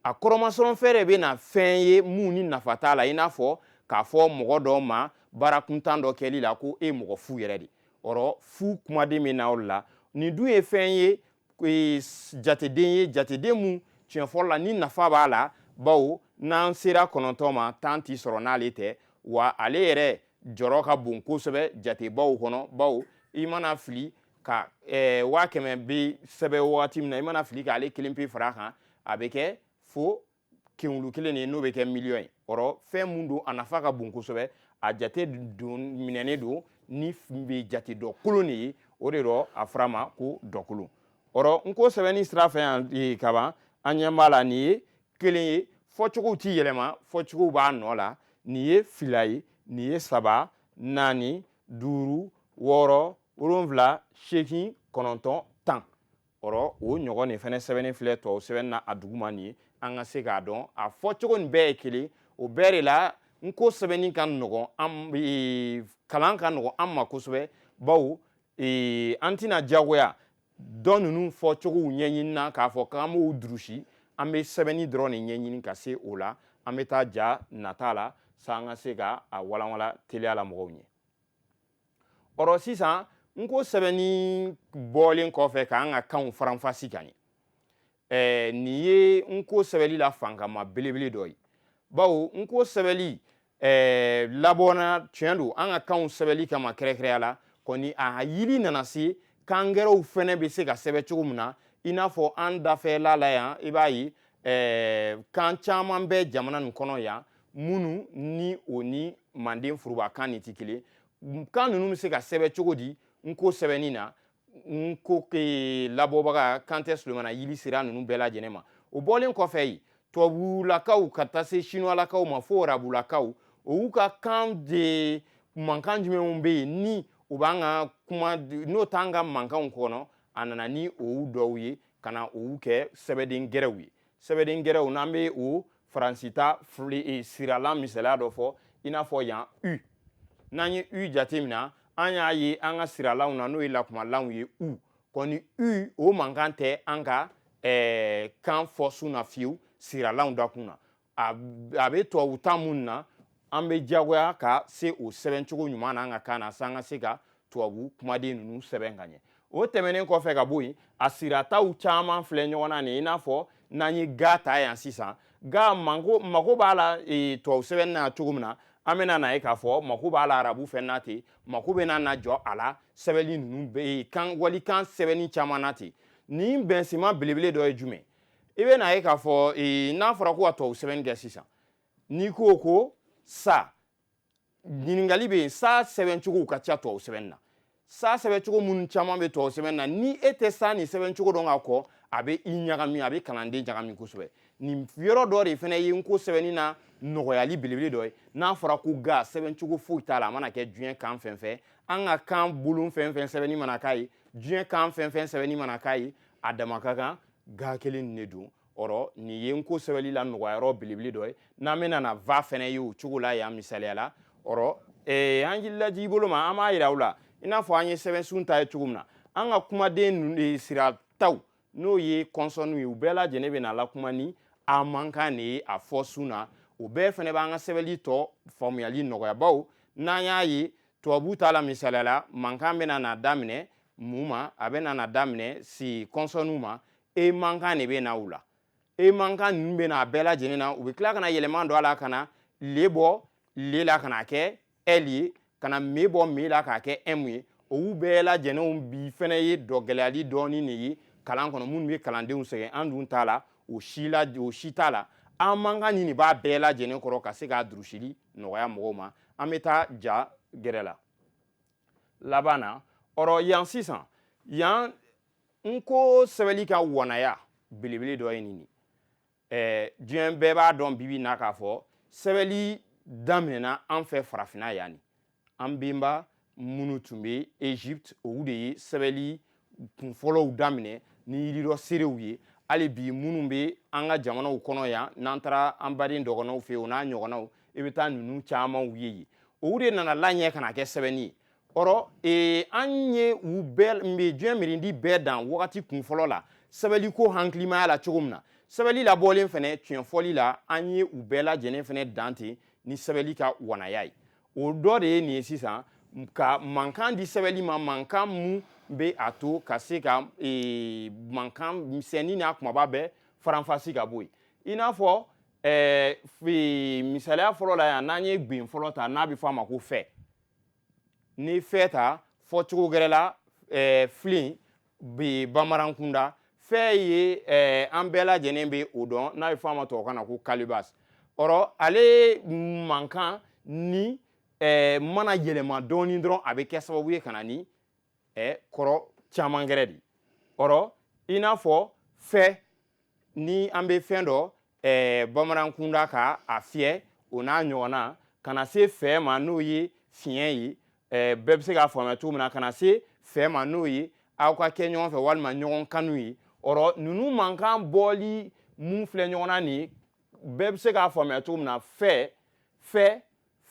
a kɔrɔmasɔrɔ fɛn de bɛ na fɛn ye mun ni nafa t'a la i n'a fɔ k'a fɔ mɔgɔ dɔ ma baara kuntan dɔ kɛli la ko e mɔgɔ fu yɛrɛ de ɔrɔ fu kumaden bɛ na o la nin dun ye fɛn ye e, jateden ye jateden mun tiɲɛ fɔlɔ la ni nafa b'a la bawo n'an sera kɔnɔntɔn ma tan ti sɔrɔ n'ale tɛ wa ale yɛrɛ jɔyɔrɔ ka bon kosɛbɛ jatebaw kɔnɔ bawo i mana fili ka eh, waa kɛmɛ bɛ sɛbɛn wagati min na i mana fili k'ale kelen pe fara a kan a bɛ kɛ fo kenwulu kelen de n'o bɛ kɛ miliyɔn ye ɔrɔ fɛn mun don a nafa ka bon kosɛbɛ a jate minɛnen don nin bɛ jate dɔkolon de ye o de rɔ a fɔra a ma ko dɔkolon ɔrɔ n ko sɛbɛnni sira fɛ yan eh, kaban an ɲɛ b'a la nin ye kelen ye fɔcogow ti yɛlɛma fɔcogow b'a nɔ la nin ye fila ye nin ye saba naani duuru wɔɔrɔ wolonwula seegin kɔnɔntɔn tan ɔrɔ o ɲɔgɔn nin fana sɛbɛnni filɛ tubabu sɛbɛnni na a duguma nin ye an ka se k'a dɔn a fɔcogo nin bɛɛ ye kelen o bɛɛ de la n ko sɛbɛnni ka nɔgɔn an e, kalan ka nɔgɔn an ma kosɛbɛ bawo e, an tɛna diyagoya don ninnu fɔcogow ɲɛɲini na k'a fɔ k'an b'o durusi an bɛ sɛbɛnni dɔrɔn de ɲɛɲini ka se o la an bɛ taa ja nata la sa an ka se ka a walanwala teliya la mɔgɔw ɲɛ ɔrɔ sisan n ko sɛbɛnni bɔlen kɔfɛ k'an ka kanw faranfasi ka ɲɛ ɛɛ nin ye n ko sɛbɛnli la fankama belebele dɔ ye bawo n ko sɛbɛnli ɛɛ labɔna tiɲɛ don an ka kanw sɛbɛnli kama kɛrɛnkɛrɛnya la kɔni a yiri nana se kan gɛrɛw fɛnɛ bɛ se ka sɛbɛn cogo min na i n'a fɔ an dafɛla la yan i b'a ye ɛɛ kan caman bɛ jamana nin kɔnɔ yan minnu ni o ni manden furubakan nin tɛ kelen kan ninnu bɛ se ka sɛbɛn cogo di n ko sɛbɛnni na n ko labɔbaga kantɛ solomana yili sera ninnu bɛɛ lajɛlen ma o bɔlen kɔfɛ yen tubabulakaw ka taa se sinuwalakaw ma fo arabulakaw olu ka kan de mankan jumɛnw bɛ yen ni u b'an ka kuma n'o t'an ka mankanw kɔnɔ a nana ni olu dɔw ye ka na olu kɛ sɛbɛden gɛrɛw ye sɛbɛden gɛrɛw n'an bɛ o faransita eh, siralan misaliya dɔ fɔ i n'a fɔ yan u n'an ye u jateminɛ an y'a ye an ka siralanw na n'o ye lakumalanw ye u kɔni u o mankan tɛ an ka eh, kan fɔ sun na fiyewu siralanw dakun na a bɛ tubabu ta minnu na an bɛ diyagoya ka se o sɛbɛncogo ɲuman na an ka kan na s'an ka se ka tubabu kumaden ninnu sɛbɛn ka ɲɛ o tɛmɛnen kɔfɛ ka bɔ yen a sirataw caman filɛ ɲɔgɔn na nin i n'a fɔ n'an ye ga ta yan sisan ga mako mako b'a la e, tubabu sɛbɛn na cogo min na an bɛna n'a ye k'a fɔ mako b'a la arabu fana ten mako bɛna na jɔ a la sɛbɛnni ninnu bɛ e, kan walikan sɛbɛnni caman na ten nin bɛnsenma belebele dɔ ye jumɛn i bɛn'a ye k'a fɔ e, n'a fɔra ko ka tubabu sɛbɛnni kɛ sisan n'i ko ko sa ɲininkali bɛ yen sa sɛbɛncogow ka ca tubabu sɛbɛnni na sa sɛbɛncogo minnu caman bɛ tubabu sɛbɛnni na ni e tɛ sa nin sɛbɛncogo dɔn ka kɔ a bɛ i ɲagami a bɛ kalanden ɲagami kosɛbɛ nin yɔrɔ dɔ de fana ye n ko sɛbɛnni na nɔgɔyali belebele dɔ ye n'a fɔra ko ga sɛbɛncogo foyi t'a la a mana kɛ diɲɛ kan fɛn fɛn an ka kan bolon fɛn fɛn sɛbɛnni mana k'a ye diɲɛ kan fɛn fɛn sɛbɛnni mana k'a ye a dama ka kan ga kelen de don o rɔ nin ye n ko sɛbɛli la nɔgɔyayɔrɔ belebele dɔ ye n'an bɛna na va fɛnɛ ye o cogo la yan misaliya la o rɔ ee, an laji bolo ma an b'a yira u la i n'a fɔ an ye sɛbɛnsun ta ye cogo min na an ka kumaden e, sirataw n'o ye kɔnsɔnniw ye u bɛɛ lajɛlen bɛna lakuma ni a mankan de ye a fɔ sun na o bɛɛ fɛnɛ b'an ka sɛbɛli tɔ faamuyali nɔgɔya bawo n'an y'a ye tubabu ta la misaliya la mankan bɛna na daminɛ mun ma a bɛna na daminɛ si kɔnsɔnniw ma e mankan de bɛ na u la e mankan ninnu bɛ na a bɛɛ lajɛlen na u bɛ tila ka na yɛlɛma don a la ka na le bɔ le la ka n'a kɛ ɛli ye ka na me bɔ me la k'a kɛ ɛmu ye olu bɛɛ lajɛlenw bi fana ye dɔ gɛlɛyali dɔɔni de ye kalan kɔnɔ minnu bɛ kalandenw sɛgɛn an dun ta la o si la o si t'a la an mankan nin de b'a bɛɛ lajɛlen kɔrɔ ka se k'a durusili nɔgɔya mɔgɔw ma an bɛ taa ja gɛrɛ la laban na o rɔ yan sisan yan n ko sɛbɛli ka wanaya belebele dɔ ye nin ye diɲɛ bɛɛ b'a dɔn bi bi na k'a fɔ sɛbɛli daminɛna an fɛ farafinna yan ni an benba minnu tun bɛ egypte olu de ye sɛbɛli kunfɔlɔw daminɛ ni yiri dɔ seerew ye hali bi minnu bɛ an ka jamanaw kɔnɔ yan n'an taara an baden dɔgɔnɔw fɛ o n'a ɲɔgɔnnaw i bɛ taa ninnu camanw ye yen olu de nana laɲɛ ka na kɛ sɛbɛnni ye ɔrɔ ee, an ye u bɛɛ diɲɛ mirindi bɛɛ dan wagati kunfɔlɔ la sɛbɛliko hakilimaya la cogo min na sɛbɛli labɔlen fɛnɛ tiɲɛ fɔli la an ye u bɛɛ lajɛlen fɛnɛ dan ten ni sɛbɛli ka wanaya ye o dɔ de ye nin ye sisan ka mankan di sɛbɛli ma mankan mun bɛ a to ka se ka ee, mankan misɛnni n'a kunbaba bɛɛ faranfasi ka bɔ yen i n'a fɔ ɛɛ misaliya fɔlɔ la yan n'an ye gwen fɔlɔ ta n'a bɛ fɔ a ma ko fɛ ni fɛ ta fɔcogo gɛrɛ la eh, filen bɛ bamanan kunda fɛ ye eh, an bɛɛ lajɛlen bɛ o dɔn n'a bɛ fɔ a ma tubabukan na ko kalibas ɔrɔ ale mankan ni eh, mana yɛlɛma dɔɔni dɔrɔn a bɛ kɛ sababu ye ka na ni ɛ kɔrɔ caman gɛrɛ de ɔrɔ i n'a fɔ fɛ ni an bɛ fɛn dɔ ɛɛ bamanan kunda ka a fiyɛ o n'a ɲɔgɔnna ka na se fɛ ma n'o ye fiɲɛ ye ɛɛ bɛɛ bɛ se k'a faamuya cogo min na ka na se fɛ ma n'o ye aw ka kɛ ɲɔgɔn fɛ walima ɲɔgɔn kanu ye ɔrɔ ninnu mankan bɔli mun filɛ ɲɔgɔn na nin bɛɛ bɛ se k'a faamuya cogo min na fɛ fɛ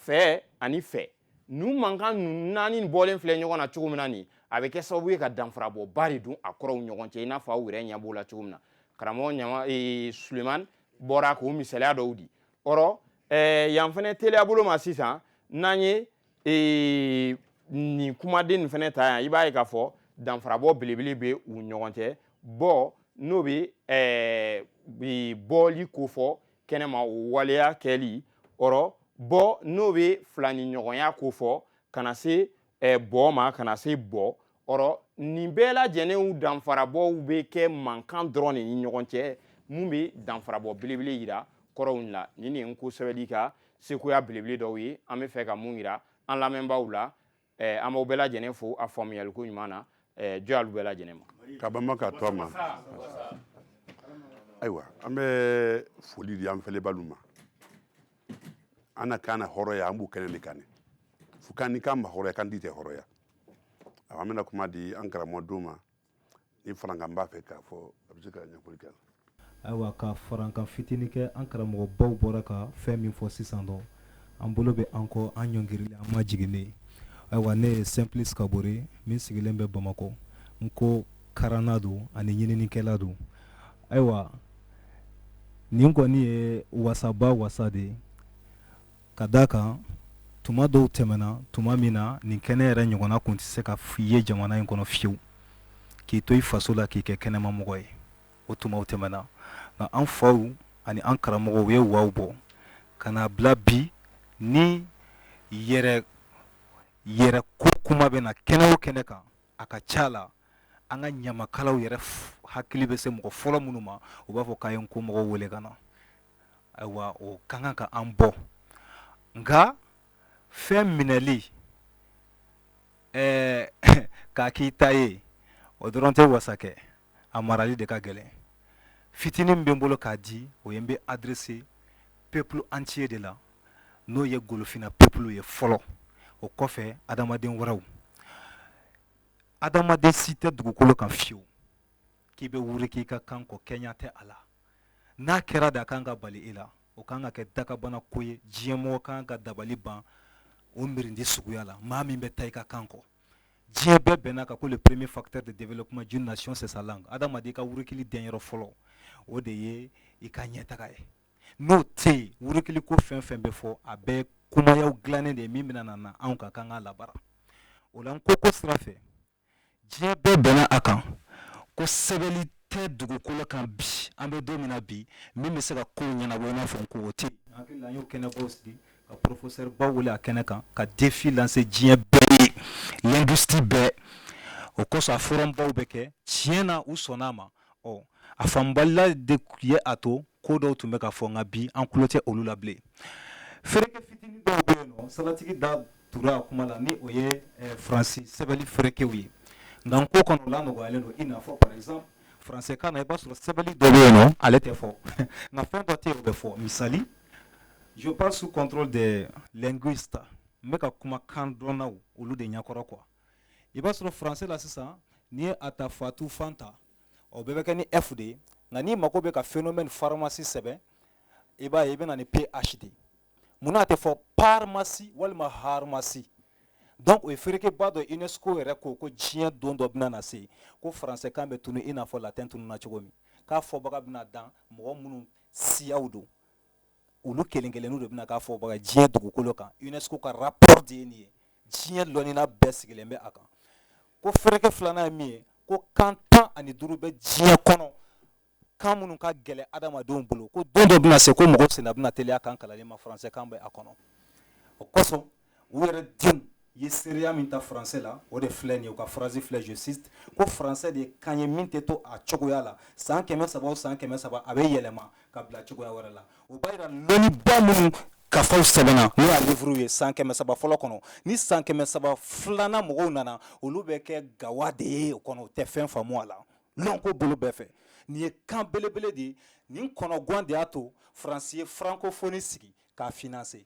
fɛ ani fɛ ninnu mankan ninnu naani bɔlen filɛ ɲɔgɔn na cogo min na nin a bɛ kɛ sababu ye ka danfarabɔba de don a kɔrɔw ɲɔgɔn cɛ i n'a fɔ aw yɛrɛ ɲɛ b'o la cogo min na karamɔgɔ ɲama ee, suleman bɔra k'o misaliya dɔw di ɔrɔ ee, yan fɛnɛ teliya bolo ma sisan n'an ye ee, nin kumaden nin fɛnɛ ta yan i b'a ye k'a fɔ danfarabɔ belebele bɛ u ɲɔgɔn cɛ bɔ n'o bɛ ɛɛ bɔli ko fɔ kɛnɛma o waleya kɛli ɔrɔ bɔ n'o bɛ filani ɲɔgɔnya ko fɔ ka na se eh, bɔ ma ka na se bɔ ɔrɔ nin bɛɛ lajɛlenw danfarabɔw bɛ kɛ mankan dɔrɔn de ni ɲɔgɔn cɛ mun bɛ danfarabɔ belebele yira kɔrɔw la nin de ye n ko sɛbɛli ka sekoya belebele dɔw ye an bɛ fɛ ka mun yira an lamɛnbaaw la eh, an b'aw bɛɛ lajɛlen fo a faamuyaliko ɲuman na eh, jɔ y'alu bɛɛ lajɛlen ma ka bama ka to a ma ayiwa an bɛ foli di an fɛlɛbaalu ma an na kan na hɔrɔya an b'o kɛnɛ de kan ne fo kan ni kan ma hɔrɔya kantii tɛ hɔrɔya awa an bɛna kuma di an karamɔgɔ dɔ ma ni farankan b'a fɛ k'a fɔ a bɛ se ka ɲɛfɔli kɛ ayiwa ka farankan fitinin kɛ an karamɔgɔ baw bɔra ka fɛn min fɔ sisan dɔ an bolo bɛ an kɔ an ɲɔngirili an majiginnen ayiwa ne ye simplice kabore min sigilen bɛ bamakɔ nko karanna don ani ɲininikɛla don ayiwa nin kɔni ye wasaba wasa de ye ka d' a kan tuma dɔw tɛmɛna tuma min na nin kɛnɛ yɛrɛ ɲɔgɔnna kun tɛ se ka ye jamana in kɔnɔ fiyewu k'i to i faso la k'i kɛ kɛnɛmamɔgɔ ye o tumaw tɛmɛna nka an faw ani an karamɔgɔw ye waw bɔ ka n'a bila bi ni yɛrɛ yɛrɛ ko kuma bɛ na kɛnɛ o kɛnɛ kan a ka ca la an ka ɲamakalaw yɛrɛ hakili bɛ se mɔgɔ fɔlɔ minnu ma u b'a fɔ k'a ye nko mɔgɔw wele ka na ayiwa o ka kan ka an bɔ nka fɛn minɛli ɛɛ k'a k'i ta ye o dɔrɔn tɛ wasa kɛ a marali de ka gɛlɛn fitinin min bɛ n bolo k'a di o ye n bɛ adresser peuple entier de la n'o ye golofina peuple ye fɔlɔ o kɔfɛ adamaden wɛrɛw adamaden si tɛ dugukolo kan fiyewu k'i bɛ wuruki i ka kan kɔ kɛɲɛ tɛ a la n'a kɛra de a kan ka bali i la o kan ka kɛ dakabana ko ye diɲɛmɔgɔ kan ka dabali ban o miirindi suguya la maa min bɛ taa i ka kan kɔ diɲɛ bɛɛ bɛnna a kan ko le premier facteur de développement d'une nation c'est sa langue adamaden ka wurukili denyɔrɔ fɔlɔ o de ye i ka ɲɛtaga ye n'o tɛ yen wurukili ko fɛn fɛn bɛ fɔ a bɛɛ kumayaw dilannen de ye min bɛna na anw ka kan k'a labaara o la nko ko sira fɛ diɲɛ bɛɛ bɛnna a kan ko sɛbɛnli tɛ dugukolo kan bi an bɛ don min na bi min bɛ se ka kow ɲɛnabɔ i n'a fɔ nko o tɛ a bɛɛ la an y'o kɛnɛbaw sigi ka professeur baw wele a kɛnɛ kan ka défi lancer diɲɛ bɛɛ ye linguiste bɛɛ o kosɔn a forum baw bɛ kɛ tiɲɛ na u sɔnna a ma ɔ a faamubaliya de ye a to ko dɔw tun bɛ ka fɔ nka bi an tulo tɛ olu la bilen fereke fitinin dɔw bɛ yen nɔ salatigi da tora a kuma la ni o ye faransi sɛbɛnni ferekew ye nka nko kɔnɔ o lanɔgɔyalen don i n'a fɔ par exemple français kan na i b'a sɔrɔ sɛbɛnni dɔ bɛ yen nɔ ale tɛ fɔ nka fɛn dɔ tɛ yen o bɛ fɔ misali je parle sous contrôle des linguistes n bɛ ka kuma kandɔnnaw olu de ɲɛkɔrɔ quoi i b'a sɔrɔ faransɛ la sisan n'i ye a ta fatu fanta o bɛɛ bɛ kɛ ni f de ye nka n'i mago bɛ ka phénomène pharmacie sɛbɛn i b'a ye i bɛna na ni ph de munna a tɛ fɔ parmasi walima harmasi donc o ye ferekeba dɔ unesco yɛrɛ ko ko diɲɛ don dɔ bɛna na se ko faransɛkan bɛ tunu i n'a fɔ latin tununa cogo min k'a fɔbaga bɛna dan mɔgɔ minnu siyaw don olu kelen kelenninw de bɛna k'a fɔbaga diɲɛ dugukolo kan unesco ka rapport de ye nin ye diɲɛ lɔnnina bɛɛ sigilen bɛ a kan ko fereke filanan ye min ye ko kan tan ani duuru bɛ diɲɛ kɔnɔ kan minnu ka gɛlɛn adamadenw bolo ko don dɔ bɛna se ko mɔgɔw senna bɛna teliya kan kalanli ma faransɛ kan bɛ a kɔnɔ o kosɔn u yɛrɛ denw ye seereya min ta faransɛ la o de filɛ nin ye u ka phrase filɛ je cite ko faransɛ de ye kan ye min tɛ to a cogoya la san kɛmɛ saba o san kɛmɛ saba a bɛ yɛlɛma ka bila cogoya wɛrɛ la o b'a yira lɔnniba minnu kafaw sɛbɛnna n'o y'a livre ye san kɛmɛ saba fɔlɔ kɔnɔ ni san kɛmɛ saba filanan mɔgɔw nana olu bɛ kɛ gawa de ye o kɔnɔ u tɛ fɛn faamu a la lɔnko bolo bɛɛ fɛ nin ye kan belebele de ye nin kɔnɔgwan de y'a to faransi ye francophonie sigi k'a financer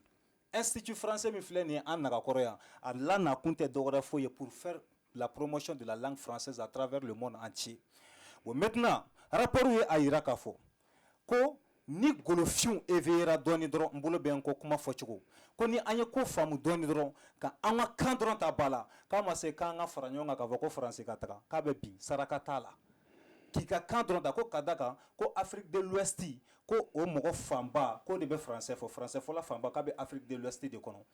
Institut français min filɛ nin ye an nagakɔrɔ yan, a la na kun tɛ dɔwɛrɛ foyi ye pour faire la promotion de la langue française à travers le monde entier bon maintenant rapport ye a yira k'a fɔ ko ni golofinw éveillera dɔɔni dɔrɔn n bolo bɛ n kɔ kuma fɔcogo ko ni an ye ko faamu dɔɔni dɔrɔn ka an ka kan dɔrɔn ta ba la k'a ma se k'an ka fara ɲɔgɔn kan k'a fɔ ko faransi ka taga k'a bɛ bin saraka t'a la k'i ka kan dɔrɔn ta ko ka da kan ko Afrique de l'Ouest ko o mɔgɔ fanba k'o de bɛ faransɛ fɔ faransɛfɔla fanba k'a bɛ Afrique de l'Ouest de kɔnɔ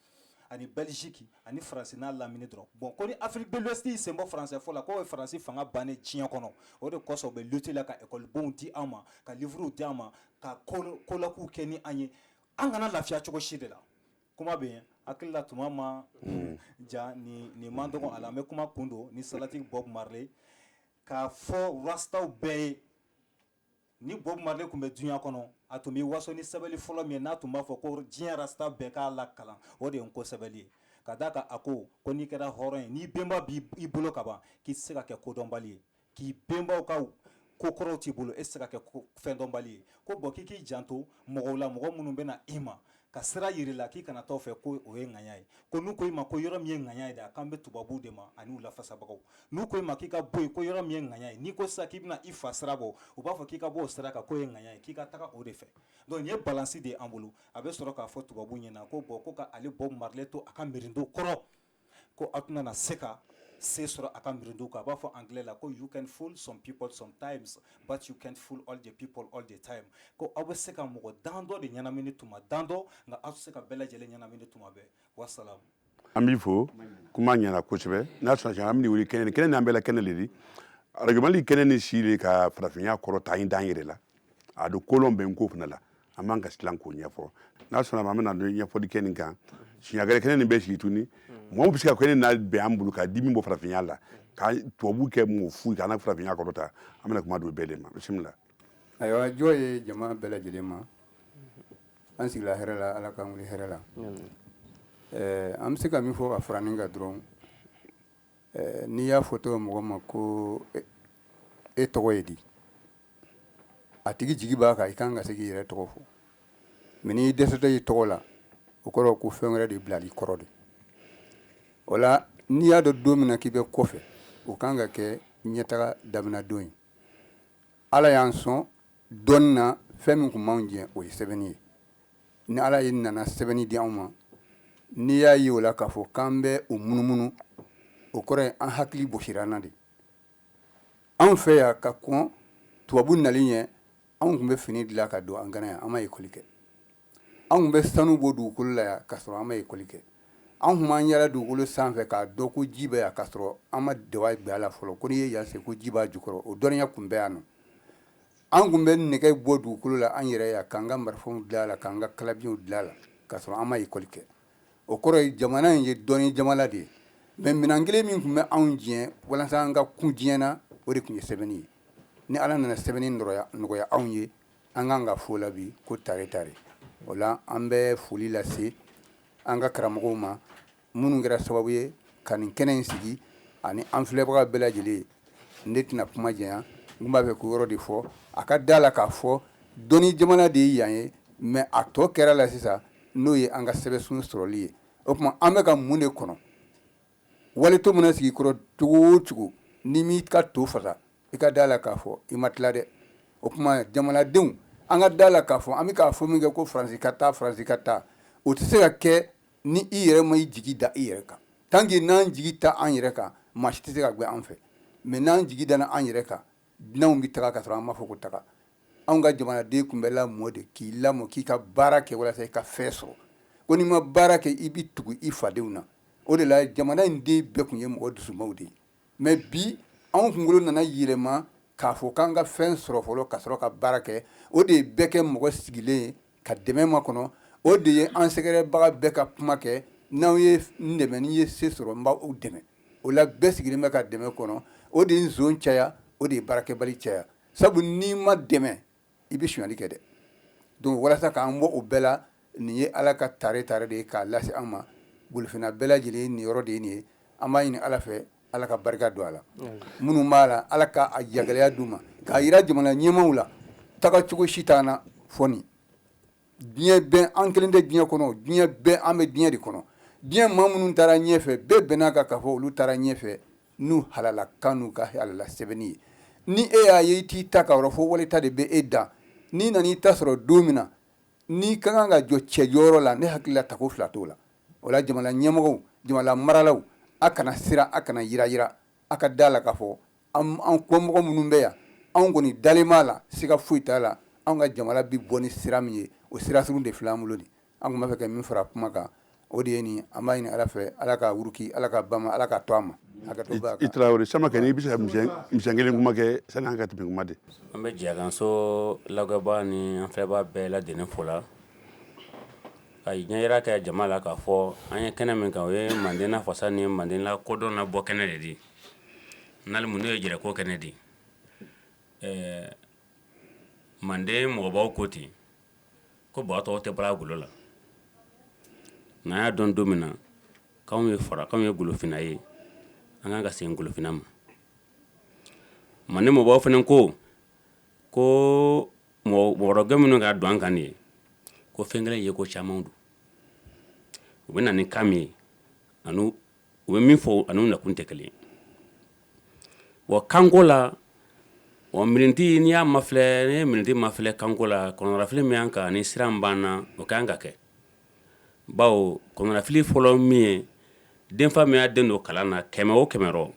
ani Belgique ani faransi n'a lamini dɔrɔn bon ko ni Afrique de l'Ouest y'i sen bɔ faransɛfɔ la k'o ye faransi fanga bannen diɲɛ kɔnɔ o de kosɔn u bɛ lutte la ka ekɔlibonw di an ma ka livrew di an ma ka colloquew kɛ ni an ye an kana lafiya cogo si de la kuma bɛ yen hakilila tuma ma ja ni nin man dɔgɔ an bɛ kuma kun don ni salati Bob Marley k'a fɔ rastaw bɛɛ ye Ni Bob Marley tun bɛ duniɲa kɔnɔ a tun b'i waso ni sɛbɛli fɔlɔ min ye n'a tun b'a fɔ ko diɲɛ rasta bɛɛ k'a lakalan o de ye N'Ko sɛbɛli ye ka da kan a ko ko n'i kɛra hɔrɔn ye n'i bɛnba b'i bolo ka ban k'i tɛ se ka kɛ kodɔnbali ye k'i bɛnbaw ka ko kɔrɔw t'i bolo e tɛ se ka kɛ fɛndɔnbali ye ko bon k'i k'i janto mɔgɔw la mɔgɔ minnu bɛna na i ma ka sira yira i la k'i kana t'o fɛ ko o ye ŋaɲa ye ko n'u ko i ma ko yɔrɔ min ye ŋaɲa ye de a kan bɛ tubabuw de ma ani u lafasabagaw n'u ko e ma k'i ka bɔ yen ko yɔrɔ min ye ŋaɲa ye n'i ko sisan k'i bɛna i fa sira bɔ u b'a fɔ k'i ka bɔ o sira kan k'o ye ŋaɲa ye k'i ka taga o de fɛ donc nin ye balansi de ye an bolo a bɛ sɔrɔ k'a fɔ tubabuw ɲɛ na ko bon ko k'ale Bob Marley to a ka mirinto kɔrɔ ko aw tɛna na se ka se sɔrɔ a ka mirindu kan a b'a fɔ anglais la ko you can fool some people sometimes but you can't fool all the people all the time ko aw bɛ se ka mɔgɔ dan dɔ de ɲɛnamini tuma dan dɔ nka aw tɛ se ka bɛɛ lajɛlen ɲɛnamini tuma bɛɛ wasalam an b'i fo kuma ɲɛna kosɛbɛ n'a sɔrɔ an bɛ wuli kɛnɛ ni kɛnɛ n'an bɛɛ la kɛnɛ le di radio Mali kɛnɛ ni si de ka farafinya kɔrɔta in dan yɛrɛ la a don kolon bɛ n ko fana la an b'an ka silan k'o ɲɛfɔ n'a sɔnna ma an bɛna don ɲɛfɔli kɛ nin kan siɲa gɛrɛ kɛnɛ nin bɛ sigi tuguni mɔgɔ bɛ se ka kɛnɛ labɛn an bolo ka di min bɔ farafinya la ka tubabu kɛ mɔgɔ fu k'an ka farafinya kɔrɔ ta an bɛna kuma don bɛɛ de ma bisimila ayiwa jɔ ye jama bɛɛ lajɛlen ma an sigila hɛrɛ la ala k'an wuli hɛrɛ la an bɛ se ka min fɔ ka fara nin kan dɔrɔn n'i y'a fɔ tɔgɔ mɔgɔ ma ko e tɔgɔ ye di a tigi jigi b'a kan i kan ka se k'i yɛrɛ tɔgɔ fɔ mɛ n'i dɛsɛtɔ y'i tɔgɔ la o kɔrɔ ko fɛn wɛrɛ de bilal'i kɔrɔ de o la n'i y'a dɔn don min na k'i bɛ kɔfɛ o kan ka kɛ ɲɛtaga daminɛdon ye ala y'an sɔn dɔnni na fɛn min tun b'an jɛ o ye sɛbɛnni ye ni ala ye nana sɛbɛnni di anw ma n'i y'a ye o la k'a fɔ k'an bɛ o munumunu o kɔrɔ ye an hakili bɔsira an na de anw fɛ yan ka kɔn tubabu nali ɲɛ anw tun bɛ fini dilan ka don an gana yan an ma ekɔli kɛ anw tun bɛ sanu bɔ dugukolo la yan ka sɔrɔ an ma ekɔli kɛ anw tun b'an yaala dugukolo sanfɛ k'a dɔn ko ji bɛ yan ka sɔrɔ an ma daba bila a la fɔlɔ ko n'i ye yan sen ko ji b'a jukɔrɔ o dɔnniya tun bɛ yan nɔ an tun bɛ nɛgɛ bɔ dugukolo la an yɛrɛ yan k'an ka marifaw dilan a la k'an ka kalabiɲɛw dilan a la ka sɔrɔ an ma ekɔli kɛ o kɔrɔ ye jamana in ye dɔnni jamana de ye mɛ minɛn kelen min tun bɛ anw jɛ walasa an ka kun diɲɛ na o de tun ye sɛbɛnni ye ni ala nana sɛbɛnni nɔgɔya anw ye an kan k'a fɔ a la bi ko tare tare o la an bɛ foli lase an ka karamɔgɔw ma minnu kɛra sababu ye ka nin kɛnɛ in sigi ani an filɛbaga bɛɛ lajɛlen ye ne tɛna kuma janya n b'a fɛ k'o yɔrɔ de fɔ a ka da a la k'a fɔ dɔnni jamana de ye yan ye mɛ a tɔ kɛra la sisan n'o ye an ka sɛbɛnsun sɔrɔli ye o tuma an bɛ ka mun de kɔnɔ wali to mana sigi i kɔrɔ cogo o cogo n'i m'i ka to fasa i ka da a la k'a fɔ i ma tila dɛ o tuma jamanadenw an ka da a la k'a fɔ an bɛ k'a fɔ min kɛ ko faransi ka taa faransi ka taa o tɛ se ka kɛ ni i yɛrɛ ma i jigi da i yɛrɛ kan tanki n'an jigi t'an yɛrɛ kan maa si tɛ se k'a gɛn an fɛ mɛ n'an jigi dana an yɛrɛ kan dunanw bɛ taga ka sɔrɔ an m'a fɔ ko taga anw ka jamanaden tun bɛ lamɔ de k'i lamɔ k'i ka baara kɛ walasa i ka fɛn sɔrɔ ko n'i ma baara kɛ i bɛ tugu i fadenw na o de la jamana in den bɛɛ tun ye mɔgɔ dusumaw de ye mɛ bi anw kunkolo nana yɛlɛma k'a fɔ k'an ka fɛn sɔrɔ fɔlɔ ka sɔrɔ ka baara kɛ o de ye bɛɛ kɛ mɔgɔ sigilen ye ka dɛmɛ makɔnɔ o de ye an sɛgɛrɛbaga bɛɛ ka kuma kɛ n'aw ye n dɛmɛ ni n ye se sɔrɔ n b'aw dɛmɛ o la bɛɛ sigilen bɛ ka dɛmɛ kɔnɔ o de ye nson caya o de ye baarakɛbali caya sabu n'i ma dɛmɛ i bɛ sonyali kɛ dɛ donc walasa k'an bɔ o bɛɛ la nin ye ala ka tare ta de ye k'a lase an ma golofinna bɛɛ lajɛlen niyɔrɔ de ye nin ye an b'a ɲini ala fɛ ala ka barika don a la minnu b'a la ala ka jagɛlɛya d'u ma k'a yira jamana ɲɛmaw la tagacogo si t'an na fɔ diɲɛ bɛɛ an kelen tɛ diɲɛ kɔnɔ diɲɛ bɛɛ an bɛ diɲɛ de kɔnɔ diɲɛ maa minnu taara ɲɛfɛ bɛɛ bɛnn'a kan k'a fɔ olu taara ɲɛfɛ n'u halala kan n'u ka halala sɛbɛnni ye ni e y'a ye i t'i ta kan yɔrɔ fɔ wali ta de bɛ e da n'i nana i ta sɔrɔ don min na n'i ka kan ka jɔ cɛjɔyɔrɔ la ne hakili la tako fila t'o la o la jamana ɲɛmɔgɔw jamana maralaw a kana siran a kana yirayira a ka da la k'a fɔ an kɔmɔgɔ minnu bɛ yan anw kɔni dalen b'a la siga foyi t'a la anw ka jamana bɛ bɔ ni sira min ye o sira sugu de filɛ an bolo nin an tun b'a fɛ ka min fara kuma kan o de ye nin an b'a ɲini ala fɛ ala ka wuruki ala ka ba ala ka to a ma i tarawele samakɛ i bɛ se ka mi kelen kuma kɛ sani an ka tɛmɛ kuma de an bɛ jiyakanso lagɛbaa ni an filɛbaa bɛɛ lajɛlen fola ka ɲɛyira kɛ jama la k'a fɔ an ye kɛnɛ min kan o ye manden nafasa ni manden lakodɔn nabɔ kɛnɛ le di N'ale mun n'o ye jɛrɛko kɛnɛ di ɛɛ manden mɔgɔbaw ko ten ko baa tɔɔ tɛ bɔla a golo la n'an y'a dɔn don min na k'anw ye fara k'anw ye golofinna ye an kan ka segin golofinna ma manden mɔgɔbaw fana ko ko mɔgɔrɔgɛ minnu ka don an kan ye ko fɛn kelen ye ko caman don u bɛ na ni kan min ye ani u bɛ min fɔ ani nakun tɛ kelen wa kanko la miniti n'i y'a mafilɛ ne ye miniti mafilɛ kanko la kɔnɔnafili min y'an kan ni siran b'an na o ka kan ka kɛ bawo kɔnɔnafili fɔlɔ min ye denfa min y'a den don kalan na kɛmɛ o kɛmɛ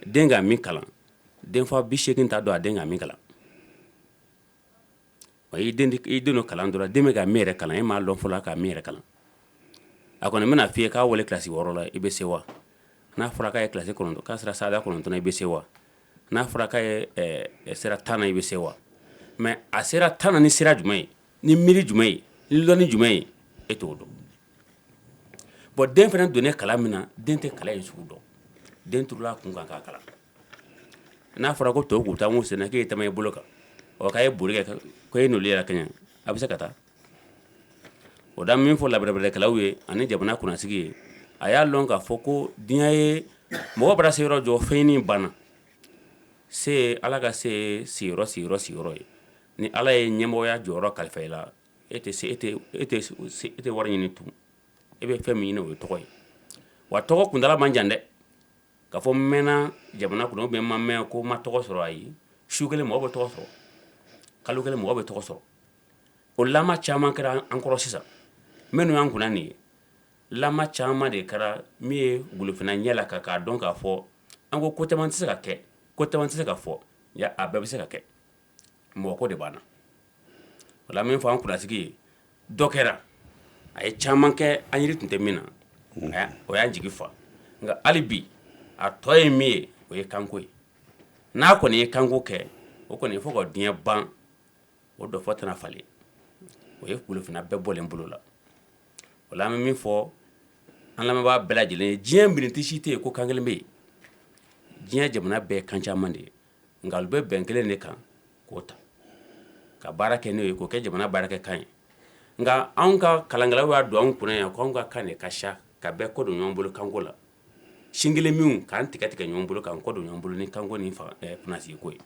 den ka min kalan denfa bi segin t'a dɔn a den ka min kalan wa i den don kalan dɔrɔn den bɛ ka min yɛrɛ kalan e m'a dɔn fɔlɔ ka min yɛrɛ kalan a kɔni bɛna f'i ye k'a wale kilasi wɔɔrɔ la i bɛ sewa n'a fɔra k'a ye kilasi kɔnɔ k'a sera sada kɔnɔntɔn na i bɛ sewa n'a fɔra k'a ye sera tan na i bɛ sewa mɛ a sera tan na ni sira jumɛn ye ni miiri jumɛn ye ni lɔnni jumɛn ye e t'o dɔn bɔn den fana donnen kalan min na den tɛ kalan in sugu dɔn den turula a kun kan k'a kalan n'a fɔra ko tɔw ka taama u sen na k'e taama i bolo kan k'a ye boli kɛ e n'o yɛrɛ kɛ a bɛ se ka taa o da min fɔla bɛrɛbɛrɛkɛlaw ye ani jamana kunnasigi ye a y'a lɔn k'a fɔ ko diɲɛ ye mɔgɔ bara se yɔrɔ jɔ fɛn ɲini banna se ala ka se sigiyɔrɔ sigiyɔrɔ sigiyɔrɔ ye ni ala ye ɲɛmɔgɔya jɔyɔrɔ kalifa i la e tɛ se e e tɛ wari ɲini tugun e bɛ fɛn min ɲini o ye tɔgɔ ye wa tɔgɔ kuntaala man jan dɛ k'a fɔ n mɛnna jamana kɔnɔ ou bien n ma mɛn ko n ma tɔgɔ sɔrɔ ayi su kelen mɔgɔ bɛ tɔgɔ sɔrɔ kalo kelen mɔgɔ bɛ tɔgɔ sɔrɔ o la caman kɛra an kɔrɔ sisan minnu y'an kunna nin ye la caman de kɛra min ye golofinna ɲɛ laka k'a dɔn k'a fɔ an ko ko caman tɛ se ka kɛ ko caman tɛ se ka fɔ a bɛɛ bɛ se ka kɛ mɔgɔ ko de b'an na o la an bɛ min fɔ an kunnasigi ye dɔ kɛra a ye caman kɛ an yiri tun tɛ min na o y'an jigi fa nka hali bi a tɔ ye min ye o ye kanko ye n'a kɔni ye kanko kɛ o kɔni fo ka diɲɛ ban o dɔfɔ tɛna falen o ye golofinna bɛɛ bɔlen bolo la o la an bɛ min fɔ an lamɛnbaa bɛɛ lajɛlen ye diɲɛ mirindi si tɛ yen ko kan kelen bɛ yen diɲɛ jamana bɛɛ ye kan caman de ye nka olu bɛ bɛn kelen de kan k'o ta ka baara kɛ n'o ye k'o kɛ jamana baarakɛkan ye nka anw ka kalankɛlaw y'a don anw kunna yan k'anw ka kan ka siya ka bɛɛ kɔ don ɲɔgɔn bolo kanko la sin kelen min k'an tigɛ tigɛ ɲɔgɔn bolo k'an kɔ don ɲɔgɔn bolo ni kanko ni kunnasigi ko ye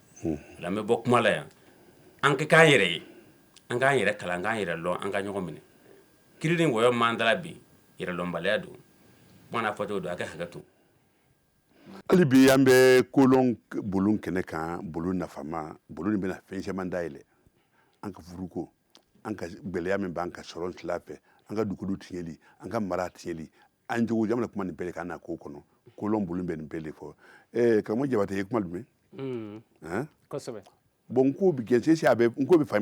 an bɛ bɔ kuma la yan an ka k'an yɛrɛ ye an k'an yɛrɛ kalan k'an yɛrɛ dɔn an ka ɲɔgɔn minɛ kiri ni wɔyɔ man da la bi yɛrɛdɔnbaliya don kuma n'a fɔcogo don aw ka hakɛ to Hali bi an bɛ kolɔn bulon kɛnɛ kan bulon nafama bulon nin bɛna fɛn caman dayɛlɛ an ka furuko an ka gɛlɛya min b'an ka sɔrɔ tila fɛ an ka dugu tiɲɛli an ka mara tiɲɛli an jogo jamana kuma nin bɛɛ ka na ko kɔnɔ kolɔn bulon bɛ nin bɛɛ de fɔ eh, karamɔgɔ jabate ye kuma jumɛn mm. bon n ko bɛ jɛnsɛn a bɛ n ko bɛ fa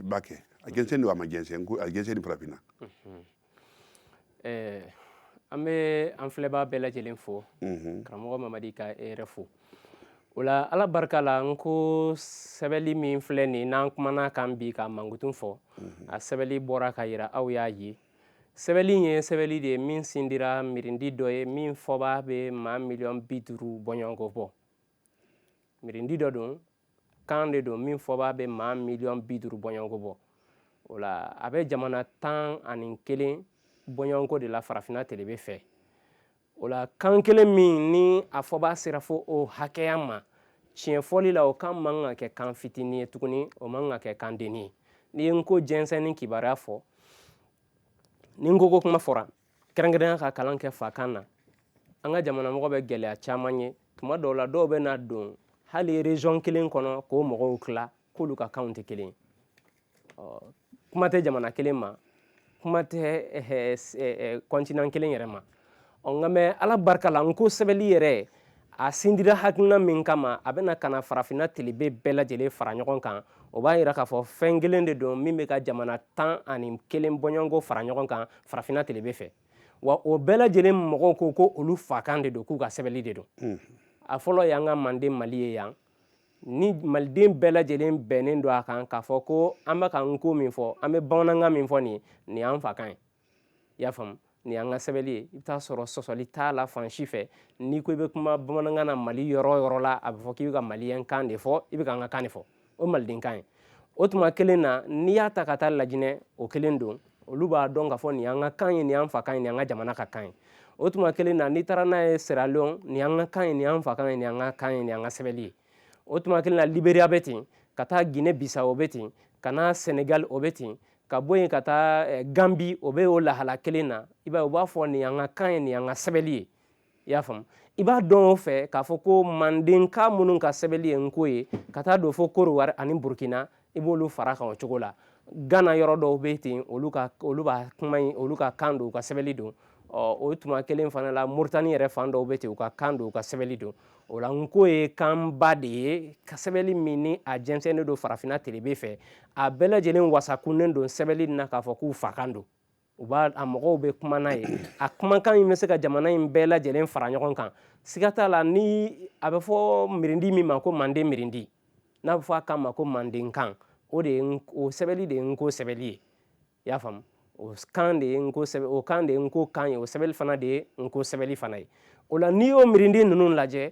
ba kɛ a jɛnsɛn don a ma jɛnsɛn a jɛnsɛnni farafinna mm-hmm. eh, an bɛ an filɛbaa bɛɛ lajɛlen fo mhm. karamɔgɔ mamadi ka e yɛrɛ fo o la ala barika la n ko sɛbɛli min filɛ nin n'an kumana a kan bi k'a mankutun fɔ mhm. a sɛbɛli bɔra k'a yira aw y'a ye sɛbɛli ye sɛbɛli de ye min sindira mirindi dɔ ye min fɔbaa bɛ maa miliyɔn bi duuru bɔɲɔgɔnko bɔ mirindi dɔ don kan de don min fɔbaa bɛ maa miliyɔn bi duuru bɔɲɔgɔnko bɔ o la a bɛ jamana tan ani kelen bɔɲɔgɔnko de la farafinna telebe fɛ o la kan kelen min ni a fɔbaa sera fo o hakɛya ma tiɲɛ fɔli la o kan man ka kɛ kan fitinin ye tuguni o man ka kɛ kan denni ye n'i ye n ko jɛnsɛnni kibaruya fɔ ni n ko ko kuma fɔra kɛrɛnkɛrɛnya ka kalan kɛ fakan na an ka jamana mɔgɔ bɛ gɛlɛya caman ye tuma dɔw la dɔw bɛ na don hali région kelen kɔnɔ k'o mɔgɔw tila k'olu ka kanw tɛ kelen kuma tɛ jamana kelen ma kuma tɛ continent kelen yɛrɛ ma ɔ nka mais ala barika la n ko sɛbɛli yɛrɛ a sindira hakilina min kama a bɛna ka na farafinna tilebe bɛɛ lajɛlen fara ɲɔgɔn kan o b'a yira k'a fɔ fɛn kelen de don min bɛ ka jamana tan ani kelen bɔɲɔgɔnko fara ɲɔgɔn kan farafinna tilebe fɛ wa o bɛɛ lajɛlen mɔgɔw ko ko olu fakan de don k'u ka sɛbɛnli de don a fɔlɔ y'an ka manden mali ye yan ni maliden bɛɛ lajɛlen bɛnnen don a kan k'a fɔ ko an bɛ ka nko min fɔ an bɛ bamanankan min fɔ nin nin y'an fakan ye i y'a faamu nin y'an ka sɛbɛnni ye i bɛ t'a sɔrɔ sɔsɔli t'a la fan si fɛ n'i ko i bɛ kuma bamanankan na mali yɔrɔ o yɔrɔ la a bɛ fɔ k'i bɛ ka maliyɛn kan de fɔ i bɛ ka an ka kan de fɔ o malidenkan ye o tuma kelen na n'i y'a ta ka taa lajinɛ o kelen don olu b'a dɔn k'a fɔ nin y'an ka kan ye nin y'an fakan ye nin y'an ka jamana ka kan ye o tuma kelen na n'i taara n'a ye seralon nin y'an ka kan ye nin y'an fakan ye nin y'an ka kan ye nin y'an ka sɛbɛnni ye o tuma kelen na liberiya bɛ ten ka taa gine bisawo o bɛ ten ka na senegali o bɛ ten ka bɔ yen ka taa eh, ganbi o bɛ o lahala kelen na i b'a ye u b'a fɔ nin y'an ka kan ye nin y'an ka sɛbɛli ye i y'a faamu i b'a dɔn o fɛ k'a fɔ ko mandenka minnu ka sɛbɛli ye nko ye ka taa don fo kodiwari ani burukina i b'olu fara kan o cogo la gana yɔrɔ dɔw bɛ ten olu ka olu b'a kuma in olu ka kan don u ka sɛbɛli don ɔ o tuma kelen fana la moritani yɛrɛ fan dɔw bɛ ten u ka kan don u ka sɛbɛli don o la nko ye kanba de ye ka sɛbɛnli min ni a jɛnsɛnnen don farafinna telebe fɛ a bɛɛ lajɛlen wasakunnen don sɛbɛnli na k'a fɔ k'u fakan don u b'a a mɔgɔw bɛ kuma n'a ye a kumakan in bɛ se ka jamana in bɛɛ lajɛlen fara ɲɔgɔn kan siga t'a la ni a bɛ fɔ mirindi min ma ko manden mirindi n'a bɛ fɔ a kan ma ko mandenkan o de ye o sɛbɛnli de ye nko sɛbɛnli ye i y'a faamu o kan de ye nko sɛbɛn o kan de ye nko kan ye o sɛbɛnni fana de ye nko sɛbɛnni fana ye o la n'i y'o mirindi ninnu lajɛ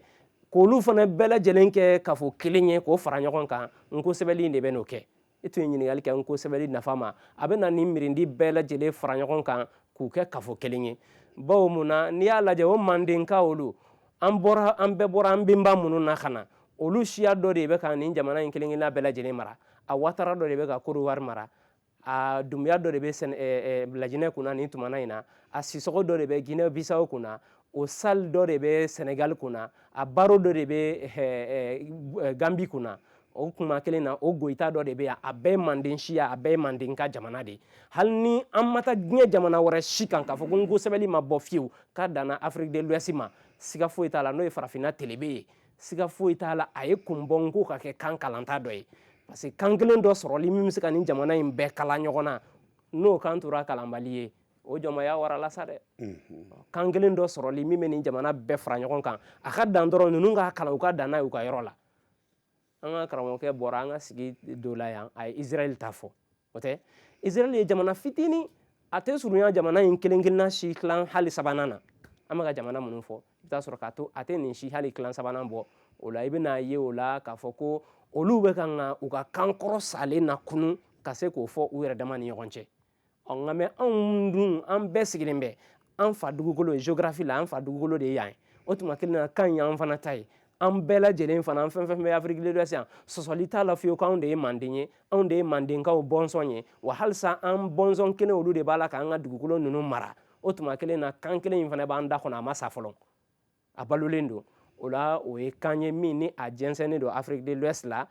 k'olu fana bɛɛ lajɛlen kɛ kafo kelen ye k'o fara ɲɔgɔn kan nko sɛbɛnni de bɛ n'o kɛ i tun ye ɲininkali kɛ nko sɛbɛnni nafa ma a bɛna nin mirindi bɛɛ lajɛlen fara ɲɔgɔn kan k'u kɛ kafo kelen ye bawo mun na n'i y'a lajɛ o mandenka olu an bɔra an bɛɛ bɔra an bɛnba minnu na ka na olu siya dɔ de bɛ ka nin jamana in kelen-kelenna bɛɛ lajɛlen mara a watara dɔ de bɛ ka kodiwari mara a dumuya dɔ de bɛ sɛnɛ eh, eh, lajinɛ kunna nin tumana in na a sisɔgɔ dɔ de bɛ gine bisawo kunna o sali dɔ de bɛ sɛnɛgali kunna a baro dɔ de bɛ eh, gambi kunna o kuma kelen na o goyita dɔ de bɛ yan a bɛɛ manden siya a bɛɛ mandenka jamana de hali ni an ma taa diɲɛ jamana wɛrɛ si kan k'a fɔ ko nko sɛbɛnni ma bɔ fiyewu k'a danna afrique de l'ouest ma siga foyi t'a la n'o ye farafinna telebe ye siga foyi t'a la a ye kun bɔ nko ka kɛ kan kalanta dɔ ye parce que kan kelen dɔ sɔrɔli min bɛ se ka nin jamana in bɛɛ kala ɲɔgɔn na n'o kan tora kalanbali ye o jɔnmaya warala sa dɛ kan kelen dɔ sɔrɔli min bɛ nin jamana bɛɛ fara ɲɔgɔn kan a ka dan dɔrɔn ninnu k'a kalan u ka dan n'a y'u ka yɔrɔ la an ka karamɔgɔkɛ bɔra an ka sigi dɔ la yan a ye israɛl ta fɔ o tɛ israel ye jamana fitinin a tɛ surunya jamana in kelen kelenna si tilan hali sabanan na an bɛ ka jamana minnu fɔ i bɛ t'a sɔrɔ k'a to a tɛ nin si hali tilan sabanan bɔ o la i bɛn'a ye o la k'a fɔ ko olu bɛ ka nka u ka kan kɔrɔ salen nakunun ka se k'o fɔ u yɛrɛ dama ni ɲɔgɔn cɛ ɔ nka mɛ anw dun an bɛɛ sigilen bɛ an fa dugukolo ye géographie la an fa dugukolo de ye yan ye o tuma kelen na kan y'an fana ta ye an bɛɛ lajɛlen fana an fɛn fɛn bɛ afiriki de l'ouest yan sɔsɔli t'a la fiyewu k'anw de ye manden ye anw de ye mandenkaw bɔnsɔn ye wa halisa an bɔnsɔn kelen olu de b'a la k'an ka dugukolo ninnu mara o tuma kelen na kan kelen in fana b'an da kɔnɔ a ma sa fɔlɔ a balolen don o la o ye kan ye min ni a jɛnsɛnnen don afiriki de l'ouest la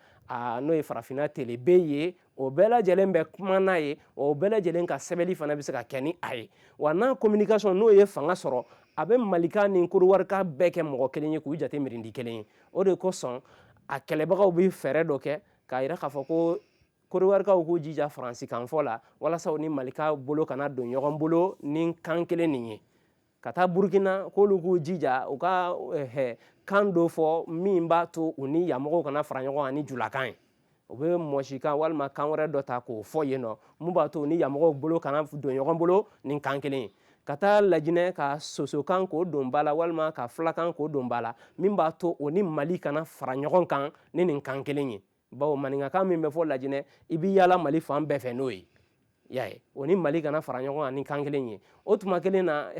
n'o ye farafinna tilebin ye o bɛɛ lajɛlen bɛ kuma n'a ye o bɛɛ lajɛlen ka sɛbɛnli fana bɛ se ka kɛ ni a ye wa n'a communication n'o ye fanga sɔrɔ a bɛ malika ni kɔdiwarika bɛɛ kɛ mɔgɔ kelen ye k'u jate mirindi kelen ye o de kosɔn a kɛlɛbagaw bɛ fɛɛrɛ dɔ kɛ k'a yira k'a fɔ ko kɔdiwarikaw k'u jija faransikanfɔ la walasa u ni malikaw bolo kana don ɲɔgɔn bolo ni kan kelen nin ye ka taa burukina k'olu k'u jija u ka eh, kan dɔ fɔ min b'a to u ni yanmɔgɔw kana fara ɲɔgɔn kan ni julakan ye u bɛ mɔsikan walima kan wɛrɛ dɔ ta k'o fɔ yen nɔ min b'a to u ni yanmɔgɔw bolo kana don ɲɔgɔn bolo ni kan kelen ye ka taa lajinɛ ka sosokan k'o don ba la walima ka fulakan k'o don ba la min b'a to o ni mali kana fara ɲɔgɔn kan ni nin kan kelen ye bawo maninkakan min bɛ fɔ lajinɛ i bɛ yaala mali fan bɛɛ fɛ n'o ye y'a ye o ni mali kana fara ɲɔgɔn kan ni kan kelen ye o tuma kelen na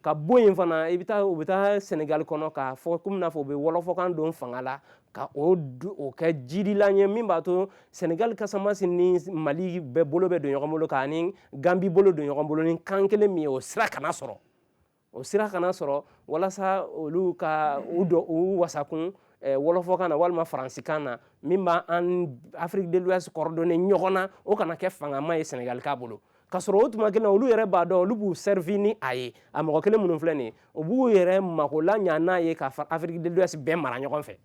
ka bɔ yen fana i bɛ taa u bɛ taa sɛnɛgali kɔnɔ k'a fɔ kɔmi n'a fɔ u bɛ wɔlɔfɔkan don fanga la ka o o kɛ jidila ye min b'a to sɛnɛgali kasamasi ni mali bɛɛ bolo bɛ don ɲɔgɔn bolo k'a ni ganbi bolo don ɲɔgɔn bolo ni kan kelen min ye o sira kana sɔrɔ o sira kana sɔrɔ walasa olu ka u dɔ u wasakun eh, wɔlɔfɔkan na walima faransikan na min b'a an afiriki de l'ouest coordonner ɲɔgɔn na o kana kɛ fangama ye senegalika bolo ka sɔrɔ o tuma kelen na olu yɛrɛ b'a dɔn olu b'u servi ni a ye a mɔgɔ kelen minnu filɛ nin ye u b'u yɛrɛ mako laɲa n'a ye ka afiriki de l'ouest bɛɛ mara ɲɔgɔn fɛ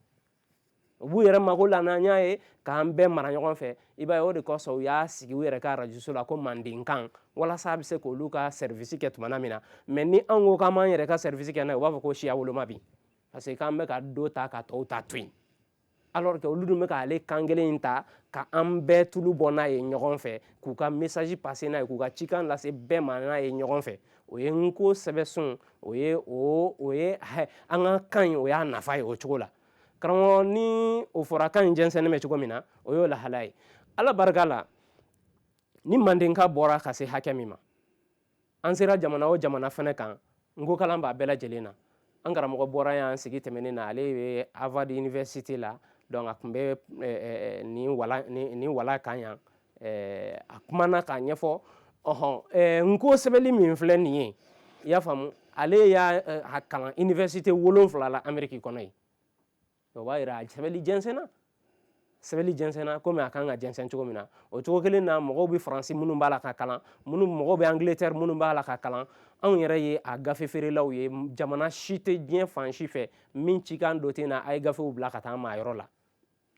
u b'u yɛrɛ mako laɲa n'a ye k'an bɛɛ mara ɲɔgɔn fɛ i b'a ye o de kosɔn u y'a sigi u yɛrɛ ka arajoso la ko mandenkan walasa a bɛ se k'olu ka sɛrivisi kɛ tuma min na mɛ ni an ko k'an b'an yɛrɛ ka sɛrivisi kɛ n'a ye u b'a fɔ ko siyawoloma bi parce que k'an bɛ ka dɔ ta ka tɔw ta to yen alors que olu dun bɛ k'ale kan kelen in ta ka an bɛɛ tulu bɔ n'a ye ɲɔgɔn fɛ k'u ka message passer n'a ye k'u ka cikan lase bɛɛ ma n'a ye ɲɔgɔn fɛ o ye nko sɛbɛsun o ye o o ye an ka kan in o y'a nafa ye o cogo la karamɔgɔ ni o fɔra kan in jɛnsɛnnen bɛ cogo min na o y'o lahala ye ala barika la ni mandenkan bɔra ka se hakɛ min ma an sera jamana o jamana fɛnɛ kan nko kalan b'a bɛɛ lajɛlen na an karamɔgɔ bɔra y'an sigi tɛmɛnen na ale bɛ harvard université la donc a tun bɛ eh, eh, eh, nin wala nin wala kan yan a kumana k'a ɲɛfɔ ɔhɔn nko sɛbɛli min filɛ nin ye i y'a faamu ale y'a kalan université wolonwula la ameriki kɔnɔ yen o b'a jira a sɛbɛli jɛnsɛnna sɛbɛli jɛnsɛnna komi a kan ka jɛnsɛn cogo min na o cogo kelen na mɔgɔw bɛ faransi minnu b'a la ka kalan minnu mɔgɔw bɛ angiletɛri minnu b'a la ka kalan anw yɛrɛ ye a gafe feerelaw ye jamana si tɛ diɲɛ fan si fɛ min cikan dɔ tɛ na a ye gafew bila ka taa maa yɔrɔ la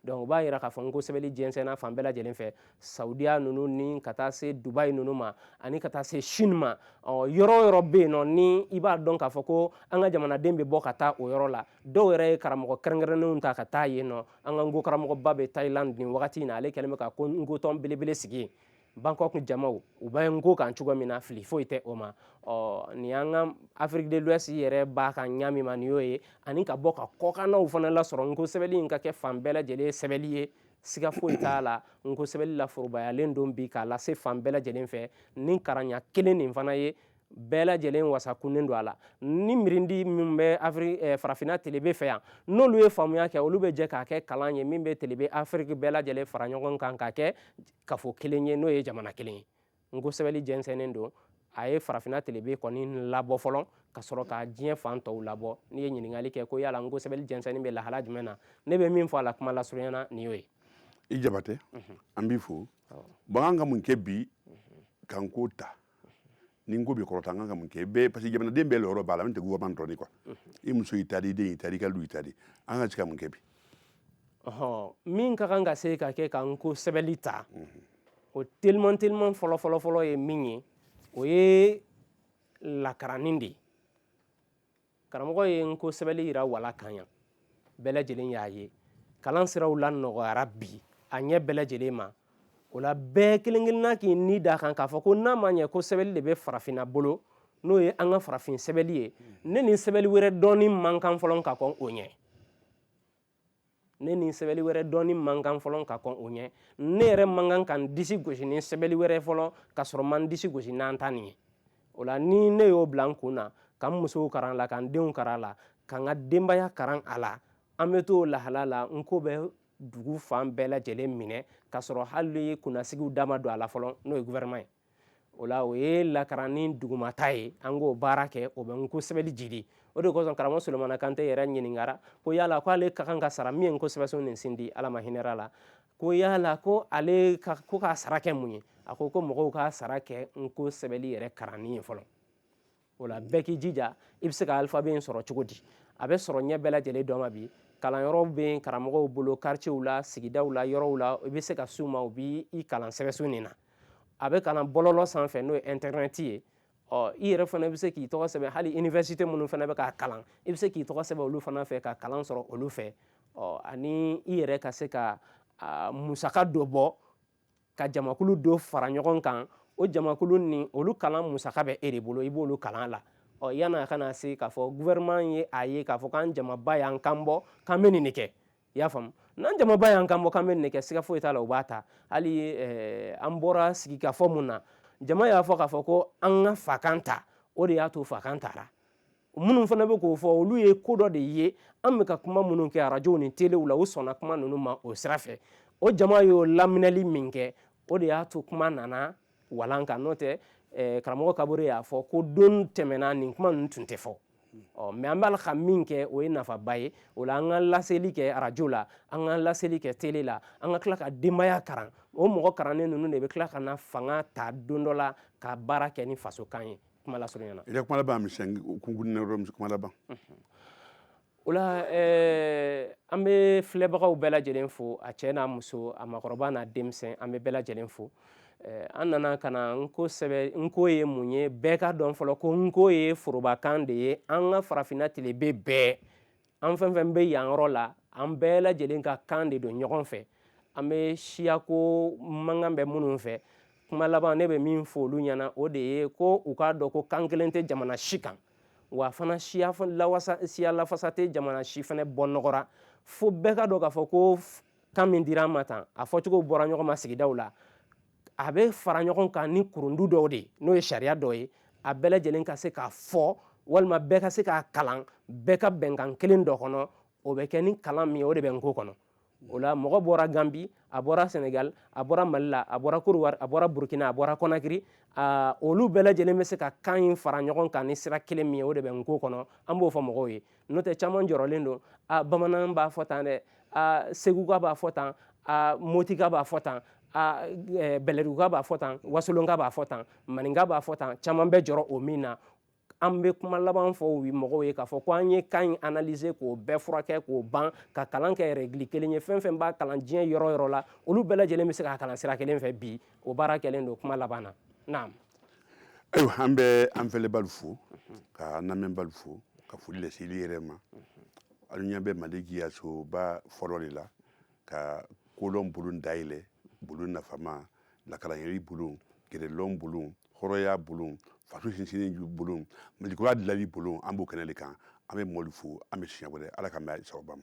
donc o b'a yira k'a fɔ nko sɛbɛli jɛnsɛnna fan bɛɛ lajɛlen fɛ saudiya ninnu ni ka taa se dubai ninnu ma ani ka taa se chine ma ɔ yɔrɔ o yɔrɔ bɛ yen nɔ ni i b'a dɔn k'a fɔ ko an ka jamanaden bɛ bɔ ka taa o yɔrɔ la dɔw yɛrɛ ye karamɔgɔ kɛrɛnkɛrɛnnenw ta ka taa yen nɔ an ka nko karamɔgɔba bɛ thailand nin wagati in na ale kɛlen bɛ ka ko nko tɔn belebele sigi yen bangkok jamaw u bɛ nko kan cogo min na fili foyi tɛ o ma ɔ nin y'an ka afrique de l'ouest yɛrɛ b'a kan ɲa min ma nin y'o ye ani ka bɔ ka kɔkannaw fana lasɔrɔ nko sɛbɛli in ka kɛ fan bɛɛ lajɛlen sɛbɛli ye siga foyi t'a la nko sɛbɛli laforobayalen don bi k'a lase fan bɛɛ lajɛlen fɛ ni karanɲa kelen nin fana ye bɛɛ lajɛlen wasakunnen don a la ni mirindi min bɛ afiri eh, farafinna telebe fɛ yan n'olu ye faamuya kɛ olu bɛ jɛ k'a kɛ kalan ye min bɛ telebe afiriki bɛɛ lajɛlen fara ɲɔgɔn kan k'a kɛ kafo kelen ye n'o ye jamana kelen ye nko sɛbɛli jɛnsɛnnen don a ye farafinna telebe kɔni labɔ fɔlɔ ka sɔrɔ ka diɲɛ fan tɔw labɔ n'i ye ɲininkali kɛ ko yala nko sɛbɛli jɛnsɛnni bɛ lahala jumɛn na ne bɛ min fɔ a la kuma lasurunya na nin y'o ye i jabatɛ mhm. an b'i fo bon an ka mun kɛ bi mhm. ka nko ta ni nko bɛ kɔrɔta an kan ka mun kɛ bɛɛ parce que jamanaden bɛɛ lɔyɔrɔ b'a la min tɛ gouvernement dɔrɔn ye quoi i muso y'i ta di i den y'i ta di i ka du y'i ta di an ka se ka mun kɛ bi ɔhɔn min ka kan ka se ka kɛ ka nko sɛbɛli ta o teliman teliman fɔlɔ fɔlɔ fɔlɔ ye min ye o ye lakaranni de ye karamɔgɔ ye nko sɛbɛli yira wala kan yan bɛɛ lajɛlen y'a ye kalan siraw lanɔgɔyara bi a ɲɛ bɛɛ lajɛlen ma o la bɛɛ kelen kelenna k'i ni da kan k'a fɔ ko n'a ma ɲɛ ko sɛbɛli de bɛ farafinna bolo n'o ye an ka farafin sɛbɛli ye ne ni sɛbɛli wɛrɛ dɔnni man kan fɔlɔ ka kɔn o ɲɛ ne ni sɛbɛli wɛrɛ dɔnni man kan fɔlɔ ka kɔn o ɲɛ ne yɛrɛ man kan ka n disi gosi ni sɛbɛli wɛrɛ fɔlɔ ka sɔrɔ ma n disi gosi n'an ta nin ye o la ni ne y'o bila n kun na ka n musow karan a la ka n denw karan a la ka n ka denbaya karan a la an bɛ t'o lahala la nko bɛ dugu fan bɛɛ lajɛlen minɛ ka sɔrɔ hali kunnasigiw da ma don a la fɔlɔ n'o ye gouvernement ye o la o ye lakaranni dugumata ye an k'o baara kɛ o bɛ nko sɛbɛli jidi o de kosɔn karamɔgɔ solomana kante yɛrɛ ɲininkara ko yala ko ale ka kan ka sara min ye nko sɛbɛsun nin sindi ala ma hinɛra la ko yala ko ale ka ko k'a sara kɛ mun ye a ko ko mɔgɔw k'a sara kɛ nko sɛbɛli yɛrɛ karanni ye fɔlɔ o la bɛɛ k'i jija i bɛ se ka alphabet in sɔrɔ cogo di a bɛ sɔrɔ ɲɛ bɛɛ lajɛlen dɔ ma bi kalanyɔrɔw bɛ karamɔgɔw bolo quartierw la sigidaw la yɔrɔw la i bɛ se ka s'u ma u b'i kalan sɛbɛsun nin na a bɛ kalan bɔlɔlɔ sanfɛ n'o ye internet ye ɔ i yɛrɛ fana bɛ se k'i tɔgɔ sɛbɛn hali université minnu fana bɛ k'a kalan i bɛ se k'i tɔgɔ sɛbɛn olu fana fɛ ka kalan sɔrɔ olu fɛ ɔ ani i yɛrɛ ka se ka musaka dɔ bɔ ka jamakulu dɔ fara ɲɔgɔn kan o jamakulu nin olu kalan musaka bɛ e de bolo i b'olu kalan la ɔ yanni a ka na se k'a fɔ gouvernement ye a ye k'a fɔ k'an jamaba y'an kan bɔ k'an bɛ nin de kɛ i y'a faamu n'an jamaba y'an kan bɔ k'an bɛ nin de kɛ siga foyi t'a la u b'a ta hali eh, an bɔra sigikafɔ mun na jama y'a fɔ k'a fɔ ko an ka fakan ta o de y'a to fakan tara minnu fana bɛ k'o fɔ olu ye ko dɔ de ye an bɛ ka kuma minnu kɛ arajow ni telew la u sɔnna kuma ninnu ma o sira fɛ o jama y'o laminɛli min kɛ o de y'a to kuma nana walan kan n'o tɛ eh, karamɔgɔ kabore y'a fɔ ko don tɛmɛna nin kuma ninnu tun tɛ fɔ ɔ mais an b'a la ka min kɛ o ye nafaba ye o la an ka laseli kɛ arajo la an ka laseli kɛ tele la an ka tila ka denbaya karan o mɔgɔ karannen ninnu de bɛ tila ka na fanga ta don dɔ la ka baara kɛ ni fasokan ye kuma lasurunya na i ka kuma laban misɛn kunkurunin na yɔrɔ kuma laban o la eh, an bɛ filɛbagaw bɛɛ lajɛlen fo a cɛ n'a muso a makɔrɔba n'a denmisɛn an bɛ bɛɛ lajɛlen fo eh, an nana ka na nko sɛbɛ nko ye mun ye bɛɛ k'a dɔn fɔlɔ ko nko ye forobakan de ye an ka farafinna tilebe bɛɛ an fɛn fɛn bɛ yan yɔrɔ la an bɛɛ lajɛlen ka kan de don ɲɔgɔn fɛ an bɛ siyako mankan bɛ minnu fɛ kuma laban ne bɛ min fɔ olu ɲɛna o de ye ko u k'a dɔn ko kan kelen tɛ jamana si kan wa fana siya lafasa tɛ jamana si fana bɔ nɔgɔ ra fo bɛɛ k'a dɔn k'a fɔ ko kan min dira an ma tan a fɔcogo bɔra ɲɔgɔn ma sigidaw la a bɛ fara ɲɔgɔn kan ni kurundu dɔw de ye n'o ye sariya dɔ ye a bɛɛ lajɛlen ka se k'a fɔ walima bɛɛ ka se k'a kalan bɛɛ ka bɛnkan kelen dɔ kɔnɔ o bɛ kɛ ni kalan min ye o de bɛ nko kɔnɔ o la mɔgɔ bɔra ganbi a bɔra sɛnɛgali a bɔra mali la a bɔra kɔdiwari a bɔra burukina a bɔra konakiri olu bɛɛ lajɛlen bɛ se ka kan in fara ɲɔgɔn kan ni sira kelen min ye o de bɛ nko kɔnɔ an b'o fɔ mɔgɔw ye n'o tɛ caman jɔrɔlen don a bamanan b'a fɔ tan dɛ a seguka b'a fɔ tan a motika b'a fɔ tan a e, bɛlɛduguka b'a fɔ tan wasolonka b'a fɔ tan maninka b'a fɔ tan caman bɛ jɔrɔ o min na an bɛ kuma laban fɔ o mɔgɔw ye k'a fɔ ko an ye kan in analyser k'o bɛɛ furakɛ k'o ban ka kalan kɛ règle kelen ye fɛn fɛn b'a kalan diɲɛ yɔrɔ yɔrɔ la olu bɛɛ lajɛlen bɛ se k'a kalan sira kelen fɛ bi o baara kɛlen don kuma laban na naam ayiwa an bɛ an fɛlɛbaalu fo ka an lamɛnbaalu fo ka foli lase alu yɛrɛ ma alu ɲɛ bɛ mali jiyasoba fɔlɔ de la ka kolɔn bulon dayɛlɛ bulon nafama lakalanyɛri bulon jɛrɛlɔn bulon hɔrɔnya bulon faso sinsinni bulon malikura dilali bulon an b'o kɛnɛ de kan an bɛ mɔɔlu fo an bɛ siɲɛ wɛrɛ ala ka mɛn sababa ma